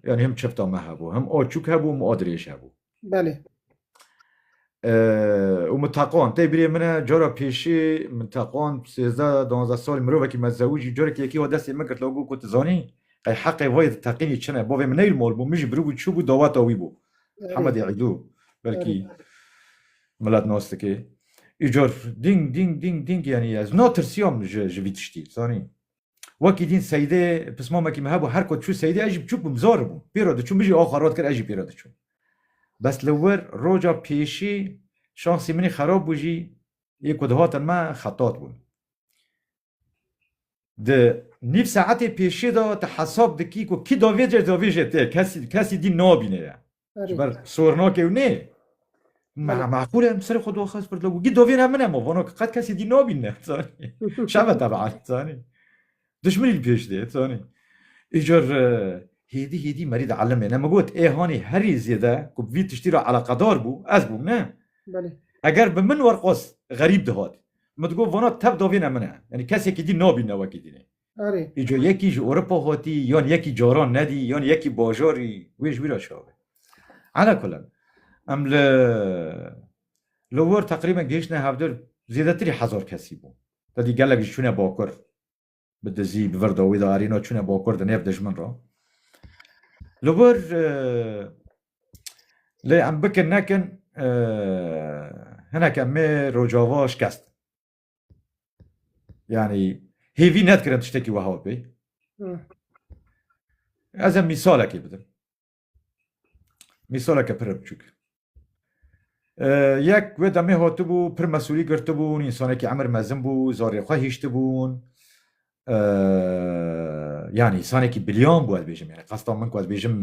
yanî him çifta me hebû, him a çûk hebû, him a dirêj hebû. Belê. û min teqand. Tê birê min e cara pêşê min teqand sêzde danzde salî mirovekî me zewicî carekî yekî wa destê min girt got tu zanî qey heqê wayê di teqînî çin e. Bavê min neyl mal bû min jî biribû çûbû daweta wî bû. Hemedî Îdû belkî milat nas dike. Îcor dîng dîng dîng dîng yanî ez natirsiyam ji ji vî tiştî zanî. Wekî dîn Seydê pismamekî min hebû her ku çû Seydê ez jî biçûk bûm zar bûm. Pêro diçûm min jî axa rat kir ez jî pêro diçûm. Bes li wir roja pêşî şansî min î xerab bû jî yê ku dihatin me xetat bûn. Di nîv saetê pêşê de tu hesab dikî ku kî davêjê davêjê te ye, kesî kesî dî nabîne ye. Ji ber sornakê ew nê. Meqûl e em serê xwe daxist pirda ku kî davêne min e ma vana ki qet kesî dî nabîne zanî. Şeve teban zanî. Dijminî li pêş dê zanî. Îcar hêdî hêdî merî di elimê ne min got ê hanî herî zêde ku bi vî tiştî re eleqedar bû ez bûm ne. Belê. Eger bi min werqas xerîb dihat. Min digot vana tev davîne min e. Yanî kesekî dî nabî newekî dî ne. Erê. Îco yekî ji Ewropa hatî yan yekî caran nedî yan yekî bajarî wê ji wî re çav e. Ala kulan em li li wir teqrîben gihiştine hevdeh zêdetirî hezar kesî bûn. Te dî gelek jî çûne bakur. bi dizî bi vir dawî de arîno çûne bakur di nêv dijmin re. Li vir lê em bikin nekin hineke mê rojava şikest. Yani hêvî nedkirin tiştekî weha pê. Ez em mîsalekê bidim. Mîsaleke pire biçûk. Yek wê demê hatibû pir mesulî girtibûn, însanekî emir mezin bû, zarê xwe hiştibûn. Yani insanekî biliyan bû ez bêjim. Yani qesda min ku ez bêjim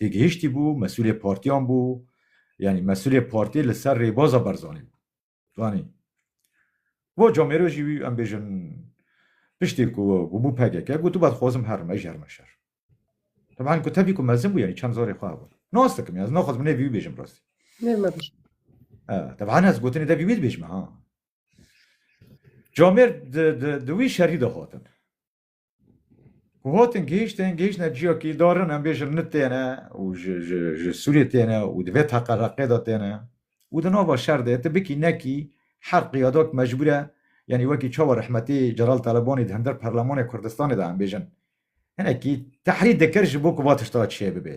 têgihiştî bû, mesulê partiyan bû. Yani mesulê partî li ser rêbaza Barzanî bû. Zanî. Bo comêro jî wî em bêjin piştê ku bû pkk gotibû ez xwazim herim ez jî herime şer. Teban ku tevî ku mezin bû yanî çend zarê xwe hebûn. Nas dikim ya ez naxwazim nêvî wî bêjim rastî. Nêr me bijî. Teban ez gotinê devî wî dibêjim ha. Comêr di wî şerî de hatin. Ku hatin gihiştin gihiştine ciyakî darin em bêjin nit têne û ji ji ji Sûriyê têne û di vê teqereqê de têne û di nava şer de tu bikî nekî her qiyadak mecbûr e yanî wekî çawa rehmetî Celal Talebanî di hember Parlemanê Kurdistanê de em bêjin hinekî tehrî dikir ji bo ku va tişta çêbibe.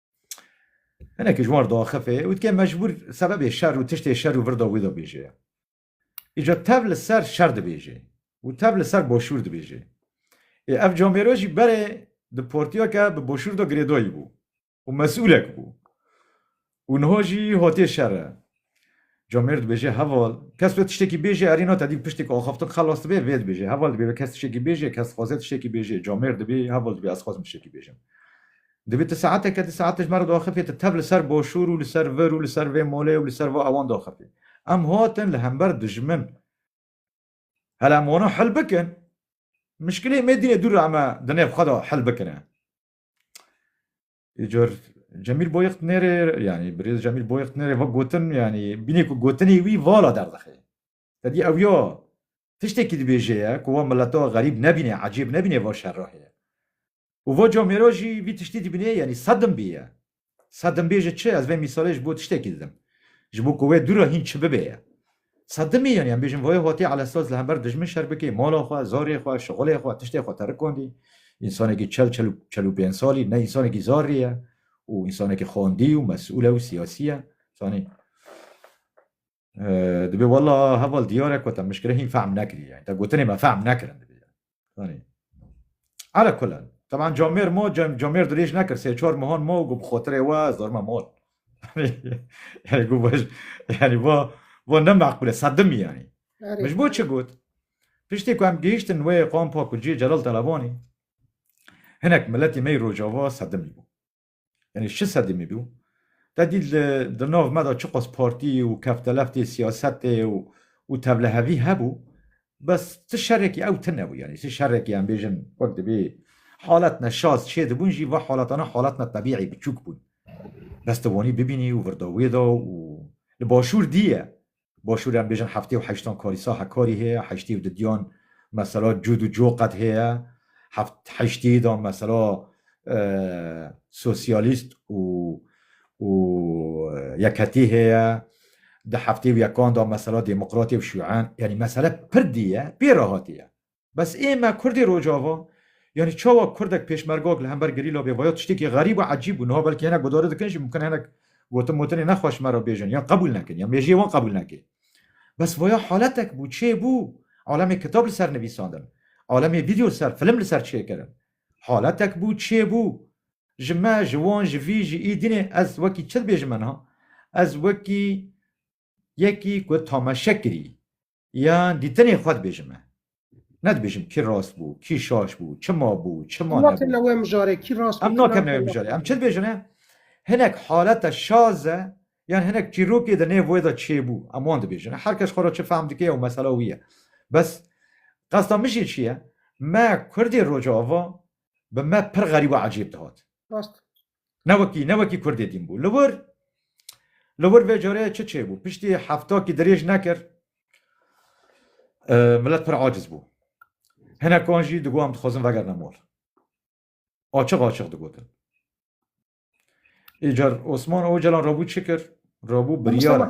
Hinekî ji wan re diaxifê û dike mecbûr sebebê şer û tiştê şer û vir de wî dibêje. Îca tev li ser şer dibêje û tev li ser boşûr dibêje. Ê ev camêro jî berê di portiya ke bi boşûr de girêdayî bû û mesûlek bû û niha jî hatê şer e. Comêr dibêje, Heval, kes wê tiştekî bêje, erî na tedî bi piştê ku axaftin xelas dibe, vê dibêje. Heval dibê kes tiştekî bêje, kes dixwaze tiştekî bêje. Comêr dibê, Heval dibê ez dixwazim tiştekî bêjim. Dibê tu saeteke di saet ji me re diaxifî, tu tev li ser başûr û li ser vir û li ser vê malê û li ser va ewan diaxifî. Em hatin li hember dijmin. Hela em wana hil bikin. Mişkilê mêdînê dûr e, em e di nêv xwe de hil bikine. Îcar Cemîl Boyix nêrê yanî birêz Cemîl Boyix nêrê va gotin yanî bînê ku gotinê wî vala derdixê. Tedî ew ya tiştekî dibêje ye ku wa mileta xerîb nebînê, ecêb nebînê va şerahê ye. Û va camê ra jî vî tiştî dibînê yanî sedim bî ye. Sedim bê ji çi? Ez vê mîsalê ji bo tiştekî didim. Ji bo ku wê dû re hîn çi bibe ye. Sedimî yanî em bêjin voyê hotê Elestos li hember dijmin şer bikê, mala xwe, zarê xwe, şixulê xwe, tiştê xwe te rikondî. Însanekî çel, çel û çel û pênc salî ne însanekî zarî ye û însanekî xwendî û mesûl e û siyasî ye. Zanî dibê wela heval diyar e ku te mişkire hîn fehm nekirî ye. Te gotinê me fehm nekirin dibê. Danî. Ala kulan. Teman camêr mo camêr dirêj nekir sê çar mihan mo û bixotirê we zorma mol. yani gu baş yani va va ne maqbule sedim yani. Mij bo çi got? Piştî ku em gihiştin wê qampa ku cî Celal Telebani hinek miletî me yê Rojava sedimî bû. Yanî şi sedî mî bî û te dît li di nav me de çiqas partî û kefteleftê siyasetê û û tevlehevî hebû bes ti şerekî ew tune bû yanî ti şerekî em bêjin wek dibê haletne şaz çê dibûn jî va haletane haletne tebîî biçûk bûn. Bes ti wanî bibînî û virda wê de û li başûr dî ye Başûrê em bêjin heftê û heştan karî saha karî heye, heştê û di diyan mesela cûd û coh qet heye, heft heştê de mesela sosyalîst û û yekhetî heye, di heftê û yekan de mesela demokratê û şûen yanî mesele pir dî ye, pê re hatî ye. Bes ê me kurdê rocava yanî çawa kurdek pêşmergak li hember gerîla bê vaya tiştekî xerîb û ecîb bû. Niha belkî hinek guhdarî dikin jî mimkin e hinek gotin motinê nexweş me re bêjin yan qebûl nekin yan mêjiyê wan qebûl neke. Bes vaya haletek bû çê bû. Alemê kitab li ser nivîsandin. Alemê vîdyo li ser, film li ser çêkirin. Haletek bû çê bû. Ji me, ji wan, ji vî, ji î dînê ez wekî çi dibêjime niha? Ez wekî yekî ku tamaşe kirî, Ya dîtinê xwe dibêjim me. Ne dibêjim kî rast bû, kî şaş bû, çima bû, çima nebû. Em nakevne wê mijarê kî rast bû, kî nebû. Em nakevne wê mijarê. Em çi dibêjin e? Hinek haleta şaz e yan hinek çîrokê di nêv wê de çêbû. Em wan dibêjin e. Her kes xwe re çi fehm dike ew mesela wî ye. Bes qesta min jî çi ye? Me kurdê rojava bi me pir xerîb û ecêb dihat. Rast e. Ne wekî ne wekî Kurdê din bû. Li wir li wir vê careyê çi çêbû? Piştî heftakî dirêj nekir milet pir aciz bû. Hinekan jî digot em dixwazin vegerine mal. Açiq açiq digotin. Îcar Osman Ocalan rabû çi kir? Rabû biryar.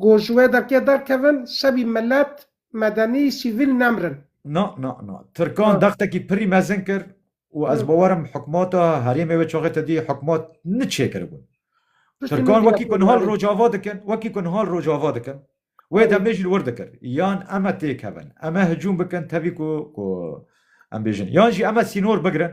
Ku ji wê derkê derkevin, sebî milet, medenî, sîvîl nemirin. Na, na, na. Tirkan dextekî pirî mezin kir û ez bawer im hikûmata herêmê wê çaxê te dî hikûmat ni çê kiribûn. Tirkan wekî ku niha li Rojava dikin, wekî ku niha li Rojava dikin, wê demê jî li wir dikir. Yan em e têkevin, em e hicûm bikin tevî ku ku em bêjin. Yan jî em e sînor bigirin.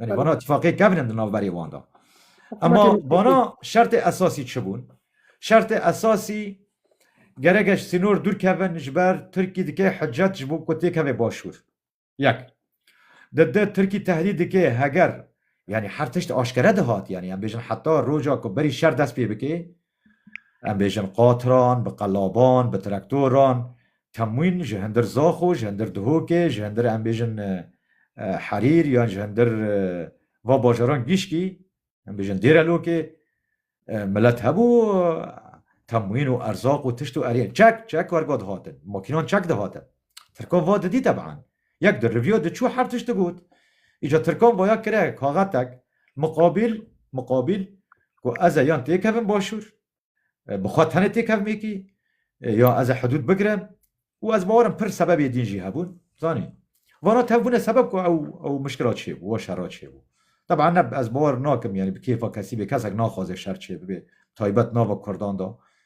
Yani bana ittifaqê kevnin di navberê wan da. Ema bana şertê esasî çi bûn? Şertê esasî gerek e ji sînor dûr kevin ji ber Tirkî dike hicret ji bo ku têkeve başûr. Yek. Di di Tirkî tehdîd dike heger yanî her tişt aşkere dihat yanî em bêjin heta roja ku berî şer dest pê bike Em bêjin qatran, bi qelaban, bi traktoran, temwîn ji hindir Zaxo, ji hindir Dihokê, ji hindir em bêjin Herîr yan ji hindir va bajaran gîşkî, em bêjin Dêrelokê milet hebû temwîn û erzaq û tişt û eriyên çek çek wergo dihatin. Makînan çek dihatin. Tirkon va didî teban. Yek di rivîyo de çû her tişt digot. Îca Tirkon vaya kire kaxetek miqabîl miqabîl ku ez ê yan têkevim başûr, bi xwe tenê têkevim êkî, ya ez ê hidûd bigirim û ez bawer im pir sebebê dîn jî hebûn. Zanî. Vana tevbûnê sebeb ku ew ew mişkila çêbû, wa şera çêbû. Teban ne ez bawer nakim yanî bi kêfa kesî bê, kesek naxwaze şer çêbibe, taybet nava kurdan de.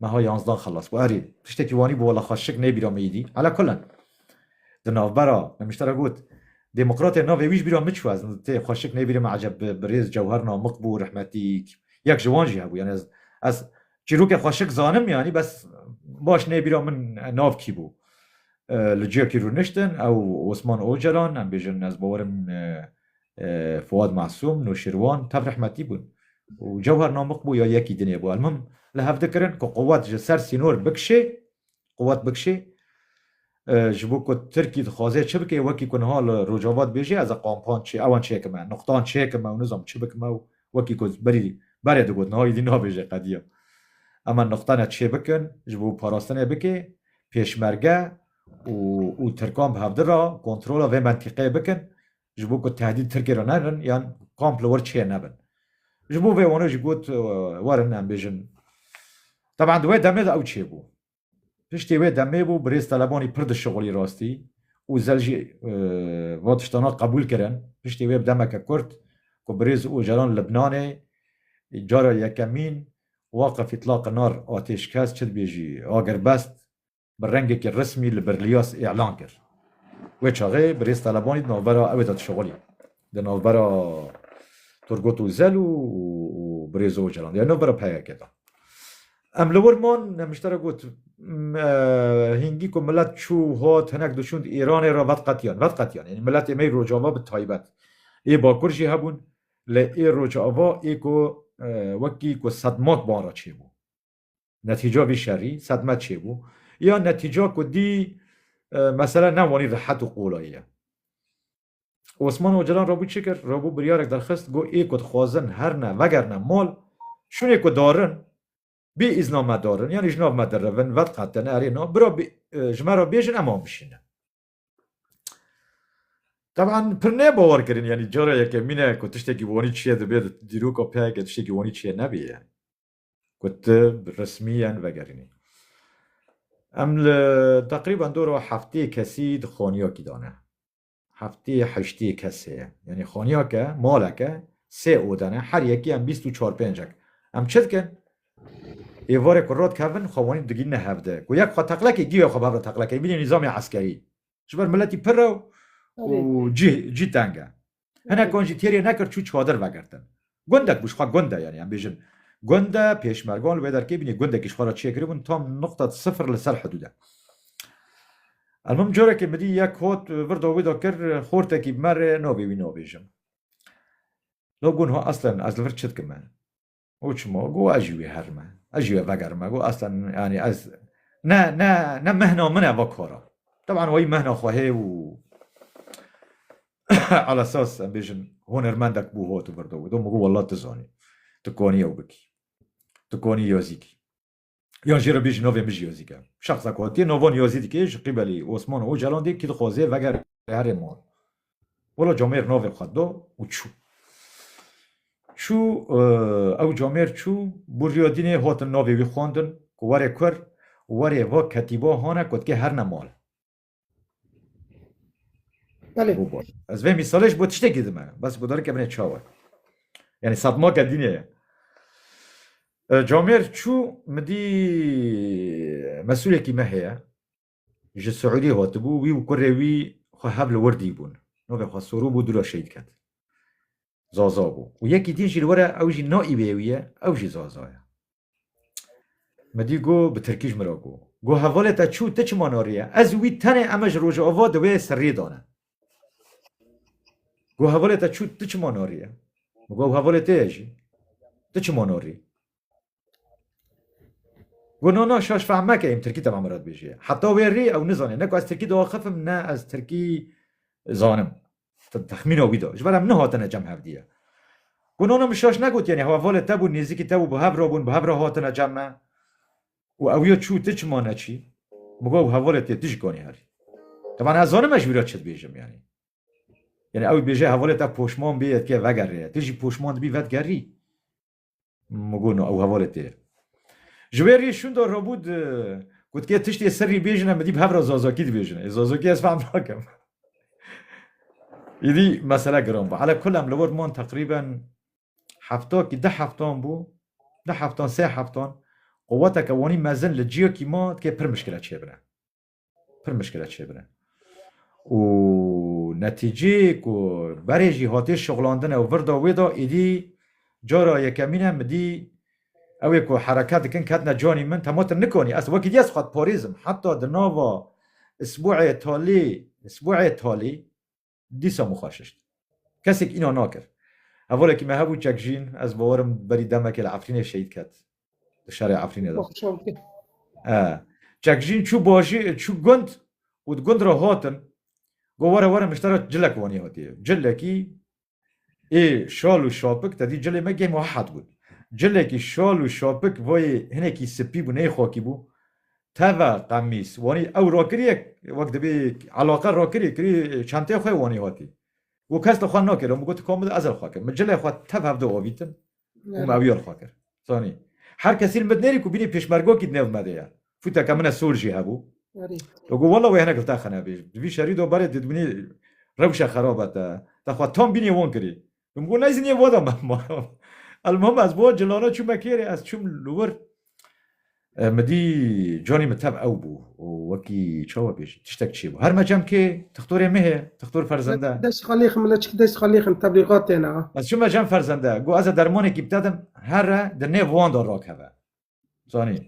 meha yanzdan xelas bû. Erê, tiştekî wanî bû wela xwe şik nêbîra me îdî. Ala kulen, di navbera nemişte re got, Demokratê navê wî ji bîra min çû. Ez tê xwe şik nêbîrim me eceb bi birêz Cewher Namik bû rehmetî yek ji wan jî hebû. Yanî ez ez çîrokê xwe şik zanim yanî bes baş nêbîra min nav kî bû. Li ciyekî rûniştin ew Osman Ocalan em bêjin ez bawerim Fuad Masûm, Nûşîrwan tev rehmetî bûn û Cewher Namik bû ya yekî dinê bû. Elmuhim li hev dikirin ku quwet ji ser sînor bikişê, quwet bikişê ji bo ku Tirkî dixwaze çi bike wekî ku niha li Rojava dibêje ez ê qampan çê ewan çêkime, nuqtan çêkime û nizanim çi bikime û wekî ku berî berê digot niha êdî nabêje qediya. Em nuqtane çê bikin ji bo parastinê bike pêşmerge û û Tirkan bi hevdira kontrola vê mentîqeyê bikin. ji bo ku tehdît Tirkiyê re nebin yan komp li wir çê nebin. Ji bo vê wan jî got werin em bêjin Teban di wê demê de ew çêbû. Piştî wê demê bû birêz Telebanî pir dişixulî rastî û zel jî va tiştana qebûl kirin. Piştî wê bi demeke kurt ku birêz Ocalan Libnanê cara yekemîn waqif îtlaqi nar atêşkes çi dibêjî agirbest bi rengekî resmî li Berliyaz îlan kir. Wê çaxê birêz Talebanî di navbera ewê de dişevelî. Di navbera Turgut Ozel û birêz Ocalan de ya navbera PYK'ê de. Em li wir man, Nemiştera got, Hingî ku milet çû hat hinek diçûn Îranê re vedqetiyan, vedqetiyan. Yanî miletê me yê Rojava bi taybet, yê Bakur jî hebûn lê ê Rojava ê ku wekî ku sedmak van re çêbû. Netîca vî şerî sedme çêbû ya netîca ku dî mesele ne wanî rehet û qolayî ye. Osman Ocalan rabû çi kir? Rabû biryarek derxist got ê ku dixwazin herine vegerine mal şûnê ku darin bê îzna me darin yanî ji nav me dirivin vediqetin erê na bira ji me re bêjin em an bişînin. Teban pir ne bawer kirin yanî cara yekemîn e ku tiştekî wanî çiye dibe di dîroka pek e tiştekî wanî çiye nebê yani. Ku tu bi resmiyen vegerînî. Em li teqrîben dora heftê kesî di xaniyakî de ne. Heftê heştê kes heye. Yanî xaniyake, maleke sê ode ne. Her yekî em bîst û çar pêncek. Em çi dikin? Êvarê ku radikevin xwe wanî digîhîne hev de. Ku yek xwe teqlekê gîya xwe bi hev re teqlekê. Bînî nîzamê eskerî. Ji ber miletî pir e û cî teng e. Hinek wan jî têrê nekir çû çadir vegirtin. Gundek bû ji xwe gund e yanî em bêjin gund e, pêşmergan li wê derkê bûn yê gundekî ji xwe re çêkiribûn tam nuqta sifir li ser hidûd e. Elmim carekê min dî yek hot vir da wî da kir xortekî bi me re navê wî nabêjim. No gonha eslen ez li vir çi dikim me? Uçmo go ez jî wê herme. Ez jî wê vegerime go asta yani ez ne ne ne mehna min e va kara. Teban wayî mehna xwe hê û ala esas em bêjin hunermendek bû hot virdo. Do min go wela tu zanî. Tu konî ew bikî. Tu konî yazîkî. Yan jê re bêjî navê min ji Yozîk e. Şexsa ku hatiye navan Yozî dike ji qîbelê Osman û Ocalan dê kî dixwaze vegere herê man. Wela camêr navê xwe da û çû. Çû ew camêr çû bû riya dînê hatin navê wî xwendin ku were kur û were va ketîba hane ku dike herne mal. Belê. Bû bor. Ez vê mîsalê ji bo tiştekî dime. Bes bi darike binê çawa. Yani satmaka dînê ye. E, Camêr çû min dî mesulekî me heye. Ji Siûdî hatibû wî û kurê wî xwe hev li wir dîbûn. Navê xwe Sorû bû dûra şehîd ket. Zaza bû. Û yekî din jî li were ew jî naîvê wî ye, ew jî Zaza ye. Min dî got, bi tirkî ji min re got, Got hevalê te çû, ti çima nariye? Ez û wî tenê em e ji rojava di wê serriyê de ne. Got hevalê te çû, ti çima nariye? Min got, ew hevalê te ye jî, ti çima narî? Got, na na şaş fehm meke, em tirkî tevî min re dibêjî. Heta wê rê ew nizane ne ku ez tirkî diaxifim ne ez tirkî zanim. Texmîna wî da. Ji ber em nehatine cem hevdîye. Got nana min şaş negot yanî hevalê te bûn nêzîkî te bû bi hev re bûn bi hev re hatine cem me û ew ya çû ti çima neçî? Min got ew hevalê te tu jî kanî herî. Tevan ez zanim ez ji wî re çi dibêjim yanî. Yanî ew dibêje hevalê te poşman bê yê dikê vegerê. Tu jî poşman dibî vedigerî. Mugono ew hevalê tê. Ji wê rê şûnda rabû di gotiye tiştê serrî bêjin em dî bi hevra zazakî dibêjin. Ê zazakî ez fehm nakim. Îdî mesele giran bû. Ala kul em li wir man teqrîben hefta kî deh heftan bû, deh heftan sê heftan. Quweteke wanî mezin li ciyekî ma dikê pir mişkile çêbine. pir mişkile çêbire. Û netîcê ku berê jî hatê şixulandine û vir da wê da êdî cara yekemîn e midî ew ê ku hereket dikin ketine canî min te ma te nikanî ez wekî dî ez xwe diparêzim heta di nava isbuê talî isbuê talî dîsa min xwe şişt. Kesek înan nakir. Hevalekî me hebû Çekjîn, ez bawer im berî demekê li Efrînê şehîd ket. Li şerê Efrînê de. E, Çekjîn çû bajî, çû gund û di gund re hatin, got were were min ji te re cilek wanî hatiye. Cilekî ê şal û şapik, te dî cilê me geh muhehed bûn. Cilekî şal û şapik vayê hinekî sipî bû, neyê xakî bû. Teve qemîs wanî ew rokiriye wek dibî elaqe rokirî kirî çenteyê xwe wanî hatî û kes li xwe nakê lom got ka min ez li xwe kir min cilê xwe tev hev de avîtin û me ew ya li xwe kir zanî her kesî li min nêrî ku bînî pêşmergakî di nêv me de ye fûteke min e sol jî hebû to got wela wê hinek li te xine bêj di vî şerî de berê dibînî rewşe xerab e te te xwe tam bînî wan kirî Min got nayzin yê wada me ma. Elmuhim ez bo cilana çûme kêrê ez çûm li wir. E, Min dî canî min tev ew bû û wekî çawa bêjî tiştek çêbû. Her me cem kê tixtorê min heye, tixtor ferzende. Dest xalêxin mila çik dest xalêxin tebligat têne a. Ez çûme cem ferzende. Got ez ê dermanekî bitedim here di nêv wan de rakeve. zanî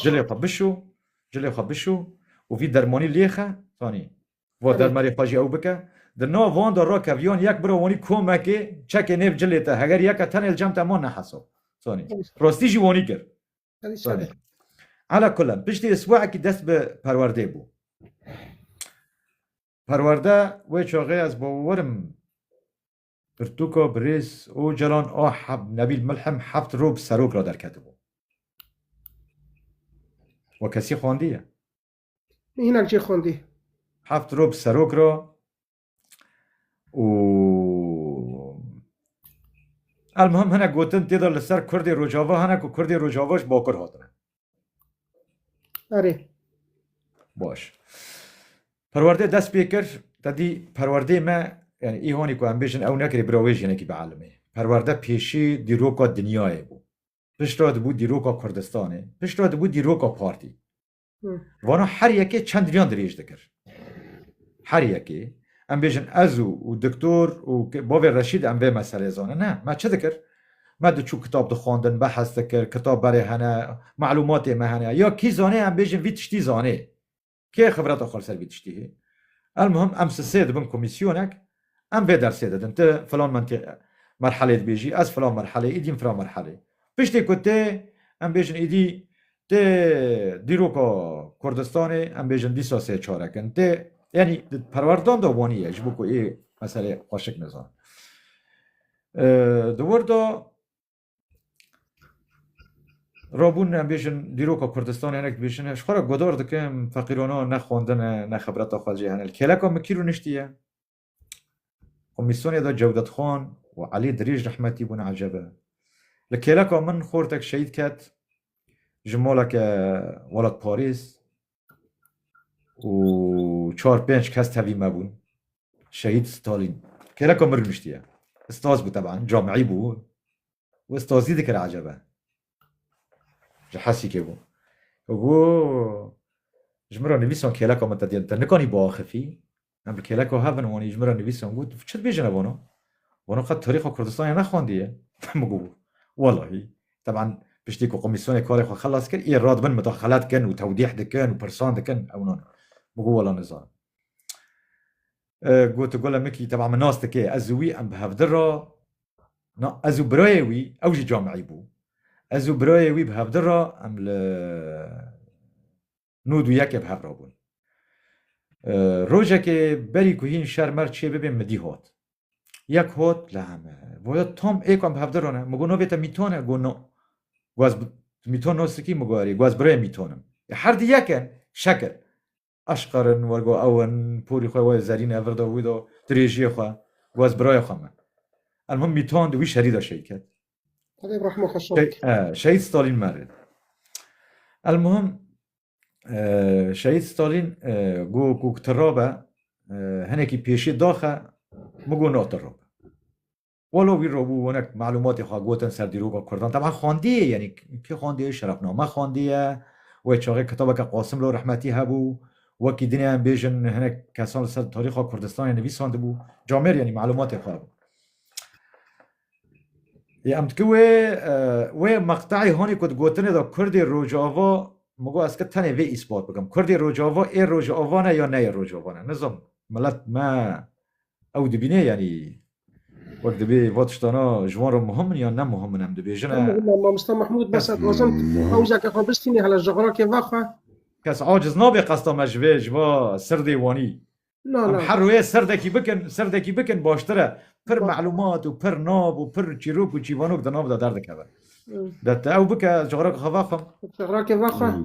cilê xwe bişû cilê xwe bişû û vî dermanî lêxe zanî va dermarê xwe jî ew bike di nav van de rakeviyan yek bira wanî komekê çekê nêv cilê te heger yeke tenê li cem te man nehesab zanî rastî jî wanî kir zanî ala kulen piştî isbuekî dest bi perwerdê bû perwerde wê çaxê ez bawerim Pirtûka birêz Ocalan a Nebîl Milhim heft rû bi serok re derketibû. We kesî xwendiye? Hinek cê xwendî. Heft rû bi serok re û Elmuhim hinek gotin tê de li ser Kurdê Rojava hene ku Kurdê Rojava ji Bakur hatine. Erê. Baş. Perwerdê dest pê kir, te dî perwerdê me yani îhonî ku em bêjin ew nekirê bira wê jinekî bielimê. Perwerde pêşî dîroka dinyayê bû. Piştre dibû dîroka Kurdistanê, piştre dibû dîroka partî. Vana her yekê çend riyan dirêj dikir. Her yekê em bêjin ez û û diktor û bavê Reşîd em vê meselê zanin ne me çi dikir? Me diçû kitab dixwandin, behes dikir, kitab berê hene, malûmatê me hene. Ya kî zanê em bêjin vî tiştî zanê? Kê xibreta xwe li ser vî tiştî hê? Elmuhim em sisê dibin komîsyonek, em vê dersê didin. Tu filan mentî merhelê dibêjî, ez filan merhelê, îdîn filan merhelê. Piştî ku tê, em bêjin îdî tê dîroka Kurdistanê, em bêjin dîsa sê çarek in. Tê yanî di perwerdan de wanî ye ji bo ku ê meselê xweşik nizanin. Di wir de rabûn em bêjin dîroka Kurdistanê hinek dibêjin ji xwe re godar dikim feqîrana ne xwendin e ne xebreta xwe jê hene. Li kêleka min kîr û niştî ye. Komîsyonê de Cewdet Xan û Elî Dirîj rehmetî bûn ecebe. Li kêleka min xortek şehîd ket ji maleke welatparêz û çar pênc kes tevî me bûn. Şehîd Stalîn kêreka mir niştiye. Staz bû teban, camîî bû û stazî dikire ecebe. Ji Hesîkê bû. Got ji min re nivîsan kêleka min te diyên te nikanî biaxifî. Em bi kêleko hev in, wanî ji min re nivîs em got, çi dibêjin ev wano? Wano qet tarîxa Kurdistanê nexwandiye. Min got, welahî. Teban piştî ku komîsyonê karê xwe xelas kir, yê radibin midaxelet dikin û tewdîh dikin û pirsan dikin, ew nan. Min got, wela nizanim. Got, Gule Mikî teban min nas dike, ez û wî em bi hevdir ra, na ez û birayê wî, ew jî camîî bû, ez û birayê wî bi hevdir ra em li, Nûd û yekê bi hev re bûn. Rojekê berî ku hîn şer mer çê bibê midî hot. Yek hot li heme. Goya Tom ê ku em bi hevdir rone. Min got navê te Mîton e? Got no. Got ez Mîton Nosrikî? Min got erê. Got ez birayê Mîton im. Ê her di yek in. Şekil. Eşqer in wer got ew in. Porî xwe wê zerîn e vir do wî do dirêjiyê xwe. Got ez birayê xwe me. Elmûhim Mîton di wî şerî de şêy ket. Xwedê rehma xwe şand. Şehîd Stalîn merê. El muhim Şehîd Stalîn ku ku tirabe hinekî pêşî daxe min ku natirabe. Walo wî robû wenek malûmatê xwe gotin ser dîroka Kurdan teban xwendiyê yenî kê xwendiyê şerefname xwendiye wê çaxê kitabeke Qasim lo rehmetî hebû wekî dinê em bêjin hinek kesan li ser tarîxa Kurdistanê nivîsandibû camêr yenî malûmatê xwe hebû. Yê em dike wê wê meqteyê honê ku digotinê de Kurdê Rojava min got ez dike tenê vê îspat bikim. Kurdê Rojava ê Rojava ne ya neyê Rojava ne. Nizam milet me ew dibînê yanî wek dibê va tiştana ji wan re muhim in yan ne muhim in em dibêjin e. Muhim e mamosta Mahmûd bes ez dixwazim pawzeke xwe bistînê hele jixirakê vexe. Kes aciz nabe qesta me ji vê ji va sirdê wanî Na Em na. her rûyê serdekî bikin, serdekî bikin baştir e. Pir Ba- melûmat û pir nav û pir çîrok û çîvanok di nav de derdikeve. Hmm. De te ew bike, çixraka xwe vexwim. Çixrakê vexe. Hmm.